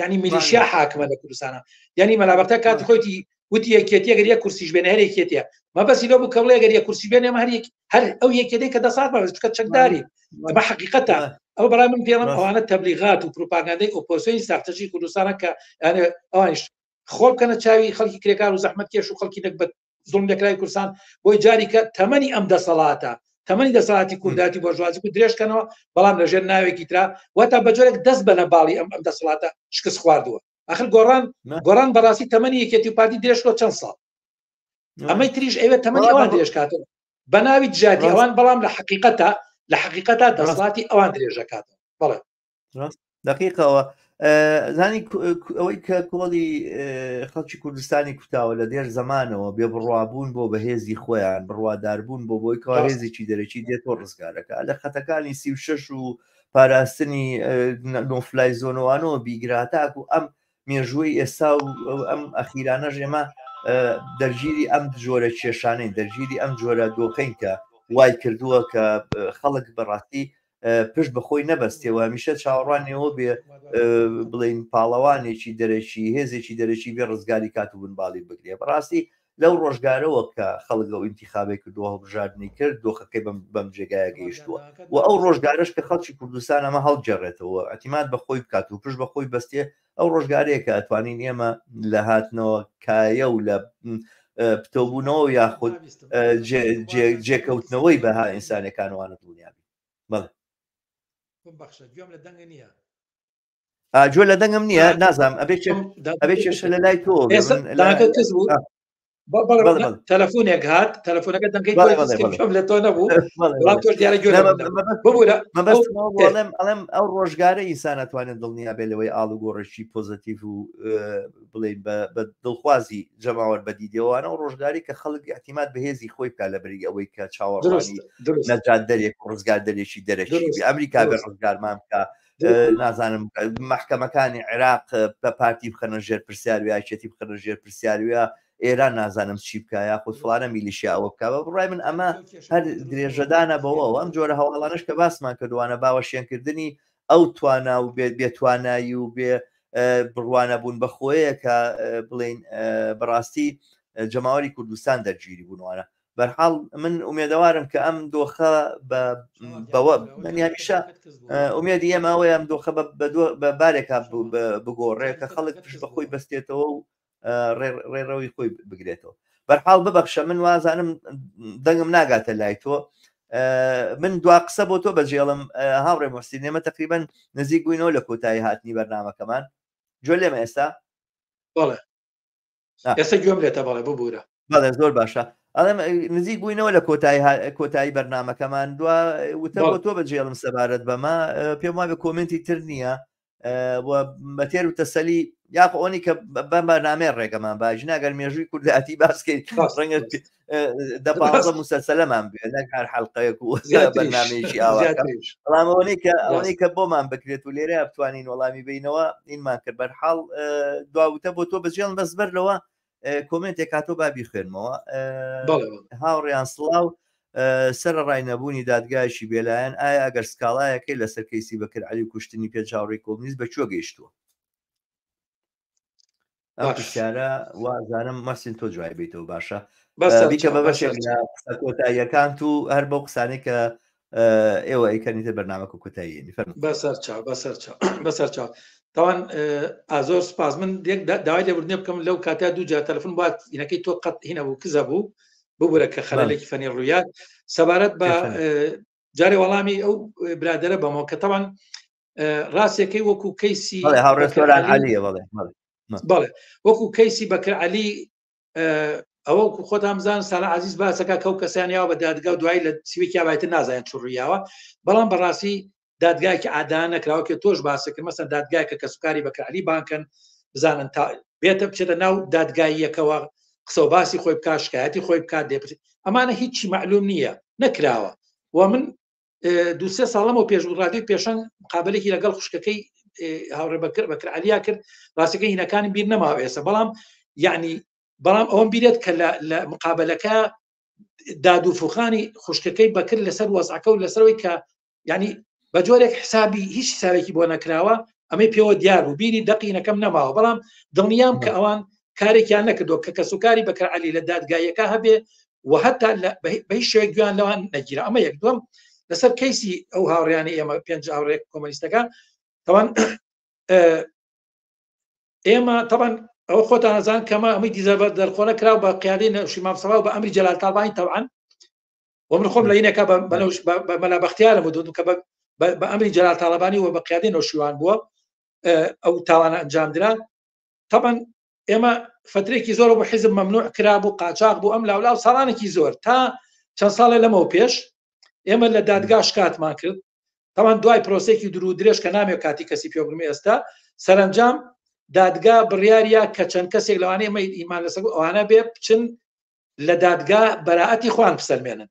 یعنی میلیشیا حاکمە لە کوردستانە یعنی مەلابەتە کات خۆیتی وتی یەکێتیە گەریە کورسیش بێنە هەر یەکێتە مەبەسی لۆ بکەڵێ گەریە کورسی بێنێ هەر هەر ئەو یەکێتی کە دەسات بەچکە چەکداری بە حقیقەتە ئەو بەڵام من پێڵم ئەوانە تەبلیغات و پروپاگاندەی ئۆپۆسیۆنی ساختەژی کوردستانە کە ئەوانش خۆڵ بکەنە چاوی خەڵکی کرێکار و زەحمت کێش و خەڵکی نەکبەت زوڵم لەکراوی کوردستان بۆی جاری کە تەمەنی ئەم دەسەڵاتە تەمەنی دەسەڵاتی کورداتی بۆژوازی و درێژکەنەوە بەڵام لەژێر ناوێکی ترا وەتا بەجۆرێک دەست بەنە باڵی ئەم ئەم دەسەڵاتە شکست خواردووە ئەخر گۆڕان گۆڕان بەڕاستی تەمەنی یەکێتی پارتی درێژکۆ چەند ساڵ ئەمەی تریش ئەوێ تەمەنی ئەوان درێژکاتەوە بە ناوی دژاتی ئەوان بەڵام لە حقیقەتە لە حقیقەتە دەسەڵاتی ئەوان درێژەکاتەوە بڵێ دقیقەوە زانی ئەوەی کە کۆڵی خەڵکی کوردستانی کوتاوە لە دێر زمانەوە بێ بڕوابوون بۆ بەهێزی خۆیان بڕواداربوون بۆ بۆی کارێزیی دەرەکی دێت بۆ ڕزگارەکە لە خەتەکانی سی و شش و پاراستنی نۆفلای زۆنەوانەوە بیگراتاک و ئەم مێژووی ئێستا و ئەم ئەخیرانە ژێمە دەرگیری ئەم جۆرە کێشانەی دەرگیری ئەم جۆرە دۆخین کە وای کردووە کە خەڵک بەڕاستی پشت بەخۆی نەبەستێ و هەمیشە چاوەڕوانیەوە بێ بڵین پاڵەوانێکی دەرەکی هێزێکی دەرەکی بێ ڕزگاری کات و بنباڵی بگرێ بەڕاستی لەو ڕۆژگارەوە کە خەڵگە و ئینتیخابێک کردووە هەڵبژاردننی کرد دۆخەکەی بەم جێگایە گەیشتووە و ئەو ڕۆژگارش کە خەڵکی کوردستان ئەمە هەڵگەڕێتەوە ئەتیمات بە خۆی بکات و پشت بە خۆی بەستێ ئەو ڕۆژگارەیە کە ئەتوانین ئێمە لە هاتنەوە کایە و لە پتەوبوونەوە یاخود جێکەوتنەوەی بەها ئینسانەکانوانە دڵنیا بەڵێ بەخشە گوێم لە دەنگە نییە ئاجۆ لە دەنگم نییە نازام ئەبێ ئەبێ کێشە لە لای تۆ کەس بوو تەلەفۆنێک هات تەلەفۆنەکە دەنگی لە تۆ نەبوو ئەڵێم ئەڵێم ئەو ڕۆژگارە ئینسانەتوانێت دڵنیا بێ لەوەی ئاڵ و گۆڕێکی پۆزتیف و بڵین بە دڵخوازی جەماوەر بەدیدەوەوانە و ڕۆژگاری کە خەڵک احتیمات بەهێزی خۆی بکە لە بری ئەوەی کە چاوەڕوانی نەجات دەرێک ڕزگار دەرێکی دەرەکی ئەمریکا بە ڕزگارمان بکە نازانم محکەمەکانی عێراق بە پارتی بخەنە ژێر پرسیار یاچێتی بخەنە ژێر پرسیاروە ئێران نازانم چی بکە یا خود فلانە میلیشیا ئەوە بکە بە بڕای من ئەمە هەر درێژەدانە بەوە ئەم جۆرە هەواڵانش کە باسمان کردوانە باوەشێنکردنی ئەو توانا و بێت بێتوانایی و بێ بڕوانە بوون بە خۆیە کە بڵین بەڕاستی جەماوەری کوردستان دەرگیری بوونوانە بەرحاڵ من ئومێدەوارم کە ئەم دۆخە بەوە من هەمیشە ئومێدی ئێمە ئەوەیە ئەم دۆخە بە بارێکا بگۆڕێ کە خەڵک پشت بە خۆی بەستێتەوە و ڕێڕەوی خۆی بگرێتەوە بەرحاڵ ببەخشە من وازانم دەنگم ناگاتە لای تۆ من دوا قسە بۆ تۆ بەجێڵم هاوڕێ مۆستی نێمە تقریبن نزیک بووینەوە لە کۆتایی هاتنی بەرنمەکەمان جۆ لێمە ئێستا بەڵێ ئێستا گوێم لێتە بەڵێ ببوورە بەڵێ زۆر باشە ئەڵێم نزیک بووینەوە لە کۆتایی کۆتایی بەرنمەکەمان دو وتە بۆ تۆ بەجێڵم سەبارەت بەمە پێم وابێ کۆمنتی تر نییە بەتێر و تەسەلی یاخ ئەوی کە بەمە نامێ ڕێگەمان باژناگەر مێژووی کورداتی باسکەیت ڕەنگە دە پازە مسەسەلەمان بێ نەک هەر حلقەیەک و بەنامێکی ئاواڵامەوەی کە ئەوەی کە بۆمان بکرێت و لێرە بتوانین وەڵامی بینەوە ئینمان کرد بەر حاڵ دواوتە بۆ تۆ بەجێڵ بەس بەر لەوە کۆمنتێک کاتۆ بابی خوێنمەوە هاوڕیان سڵاو سەر ڕای نەبوونی دادگایشی بێلایەن ئایا ئەگەر سکاڵایەکەی لەسەر کەیسی بەکرد علی کوشتنی پێ جاڕی کۆمیز بە کوێ گەیشتووە ئەو پرسیارە وازانم مەسین تۆ جوای بیتەوە باشە بیکە بە بەشێک کۆتاییەکان و هەر بەو قسانەی کە ئێوە ئەیکەنیتە بەرنامە و کوتایی بەسەر چاو بەسەر چاو بەسەر چاو تاوان ئازۆر سپاس من داوای لێبوردنێ بکەم لەو کاتا دوو جار تەلفن بات هینەکەی تۆ قەت هینە بوو کزە بوو ببورە کە خەلێکی فەنی ڕوویات سەبارەت بە جارێ وەڵامی ئەو برادرە بەمەوە کە تاوان ڕاستەکەی وەکو کەیسی بەڵێ وەکو کەیسی بەکە علی ئەوە خۆتامزان سالا عزیز باسەکە کەو کەسانیاوە بە دادگا و دوای لە سویکیا بایتە نازانێت چڕیاوە بەڵام بەڕاستی دادگایکی عادان نەکراوە کە تۆش باسەکرد مەسەن دادگایکە کە سوکاری بەکەعلی بانکەن بزانن تا بێتە بچێتە ناو دادگاییەکەوە قسە باسی خۆی بکات شکایەتی خۆی بکات دێ ئەمانە هیچی معلوم نییە نەکراوە و من دوسێ ساڵ لەمەوە پێش و ڕادیۆی پێشەنگ قابلێکی لەگەڵ خوشکەکەی هاوڕێ بەکر بەکر علیا کرد ڕاستەکە هینەکانی بیر نەماوە ئێستا بەڵام یعنی بەڵام ئەوم بیرێت کە لە مقابلەکە دادوفوخانی خوشکەکەی بەکرد لەسەر وەزعەکە و لەسەرەوەی کە ینی بە جۆرێک حسابی هیچ ساوێکی بۆ نەکراوە ئەمەی پێوە دیار و بیری دەقینەکەم نەماوە بەڵام دڵنیام کە ئەوان کارێکیان نەکردو کە کەسوکاری بەکرعلی لە دادگایەکە هەبێ و هەتا بە هیچ شوێک گویان لەوان نەگیرە ئەمە یەک دوم لەسەر کەیسی ئەو هاوڕیانی ئێمە پێنج هاوڕێک کۆمەلیستەکە تەوان ئێمە تەبان ئەو خۆتان ئەزان کەمە ئەمی دیزەبەر دەرخۆنە کرا بە قیادی نەوشی مامسەڵاو بە ئەمری جەلال تاڵبانی تەوان ومن خۆم لە یینەکە بەنەوش بە مەلا بەختیارە بۆ دوم کە بە ئەمری جەلال تاالبانی و بە قیادی نەوشیوان بووە ئەو تاوانە ئەنجامدرا تەبان ئێمە فترێکی زۆر بۆ حیزب مەمنوع کرابوو قاچاق بوو ئەم لاولا و ساڵانێکی زۆر تا چەند ساڵێ لەمەوە پێش ئێمە لە دادگا شکاتمان کرد تاوان دوای پرۆسێکی درو درێژ کە نامێ کاتی کەسی پێبرمی ئێستا سەرنجام دادگا بڕیارە کە چەند کەسێک لەوانەیە مە ئیمان لەسەر ئەوانە بێ بچن لە دادگا بەراەتی خوان بسەلمێنن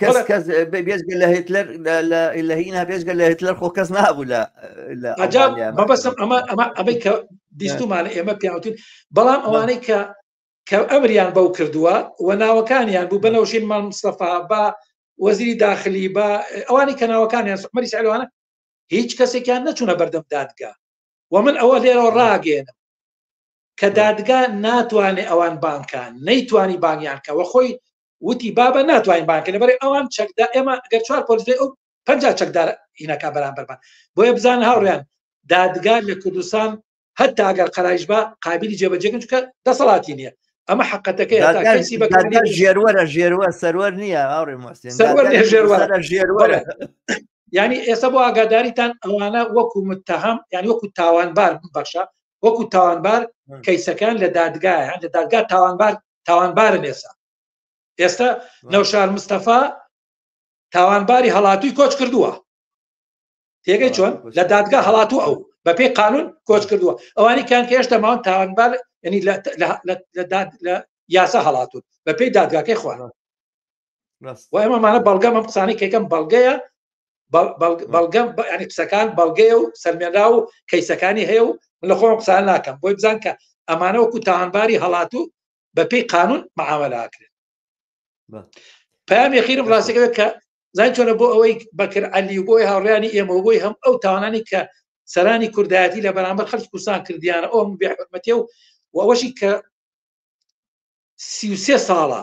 کەس کەس بێزگە لە هیتلەر لە هینا بێزگە لە هیتلەر خۆ کەس نابوو لە بەبەسم ئەمە ئەمە ئەمەی کە بیستمان ئێمە پیاوتین بەڵام ئەوانەی کە کە ئەمریان بەو کردووە و ناوەکانیان بوو بەنەوشین مام مستەفا بە وەزیری داخلی بە ئەوانی کە ناوەکانیان سوحمەری سەلوانە هیچ کەسێکیان نەچوونە بەردەم دادگا و من ئەوە لێرەوە ڕاگەێنم کە دادگا ناتوانێت ئەوان بانکان نەیتوانی بانیان کەەوە خۆی وتی بابە ناتوانین بانکە لەبەر ئەوان چەکدا ئێمە گەر چوار پۆلیسی ئەو پ چەکدار هینەکە بەرامبەرمان بۆیە بزان هاوڕیان دادگار لە کوردستان هەتا ئەگەر قەرایش بە قابلی جێبەجێکن چکە دەسەڵاتی نییە ئەمە حقەتەکەی ژێروەرە ژێروە سەروەر نییە هاوڕێ ژێروەرە ینی ئێستا بۆ ئاگاداریتان ئەوانە وەکو متتەهام یانی وەکو تاوانبار بەخشە وەکو تاوانبار کەیسەکان لە دادگایان لە دادگا تاوانبار تاوانبارە مێسا ئێستا نەوشار مستەفا تاوانباری هەڵاتوی کۆچ کردووە تێگەی چۆن لە دادگا هەڵاتو ئەو بە پێی قانون کۆچ کردووە ئەوانی کان کە هێشتا ماون تاوانبار ینی لە یاسا هەڵاتون بە پێی دادگاکەی خوارەوە وای ئەمەمانە بەڵگەم ئەم قسانەی کەکەم بەڵگەیە بەڵگەم ینی قسەکان بەڵگەیە و سەلمێنرا و کەیسەکانی هەیە و من لە خۆم قسان ناکەم بۆی بزان کە ئەمانەوەکو تاوانباری هەڵاتوو بەپی قانون معاملاکرێت پام یخیرم ڕاستەکە کە زای چۆنە بۆ ئەوەی بەکر علی و بۆی هاوڕیانی ئێمە بۆی هەم ئەو تاوانانی کە سەرانی کوردایەتی لە بەرامبەر خەرج کوردستان کردیانە ئەو بێحرمەتێ و وەشی کە سیسێ ساڵە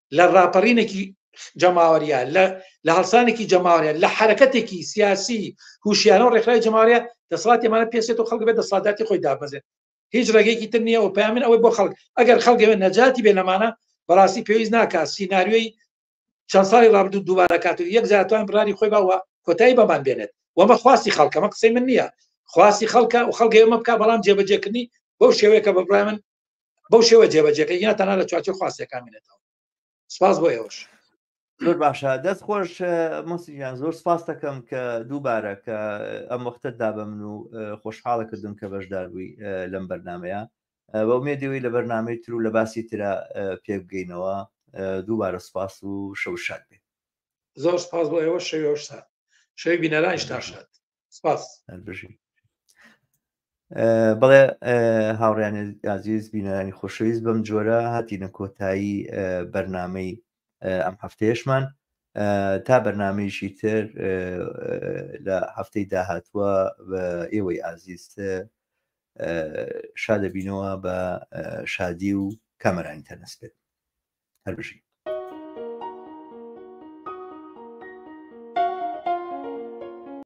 لە ڕاپەڕینێکی جەماوەریە لە هەڵسانێکی جەماوەریە لە حرەکەتێکی سیاسی هوشیانە و ڕێکخراوی جەماوەریە دەسڵاتی ئەمانە پێسێت و خەڵک بێت دەسڵاتداتی خۆی دابەزێت هیچ ڕێگەیەکی تر نییە و پامن ئەوەی بۆ خەڵک ئەگەر خەڵگەوێت نەجاتی بێ لەمانە بەڕاستی پێویست ناکات سینناریۆی چەند ساڵی ڕابدو دووبارە کات و یەک زیاتوان بڕاری خۆی باوە کۆتایی بەمان بێنێت وەمە خواستی خەڵکەمە قسەی من نییە خواستی خەڵکە و خەڵگەێمە بک بەڵام جێبەجێکردنی بەو شێوەیەکە بەبرای من بەو شێوە جێبەجێکە یا تەنا لە چوارچێ خواستەکان منێتەوە سپاس بۆ ئێوەش زۆر باشە دەست خۆش مەسییان زۆر سپاس دەکەم کە دووبارە کە ئەم وەختت دا بە من و خۆشحاڵە کردم کە بەشدار بووی لەم بەرنمەیە بە مێدەوەی لە بەرنمەی تر و لە باسی ترە پێک بگەینەوە دووبارە سپاس و شەو شاد بێت زۆر سپاس بۆ ئێوە شەوێش سات شەوی بینەرانیش تاشات سپاس بژی بەڵێ هاوڕیانی ئازیز بینەرانی خۆشەویست بەم جۆرە هاتیینە کۆتایی بەرنمەی ئەم هەفتەیەشمان تا بەرنمەیشی تر لە هەفتەی داهاتوە بە ئێوەی ئازیز شادەبینەوە بە شادی و کامەرانی تەنەس بێت هەر بژی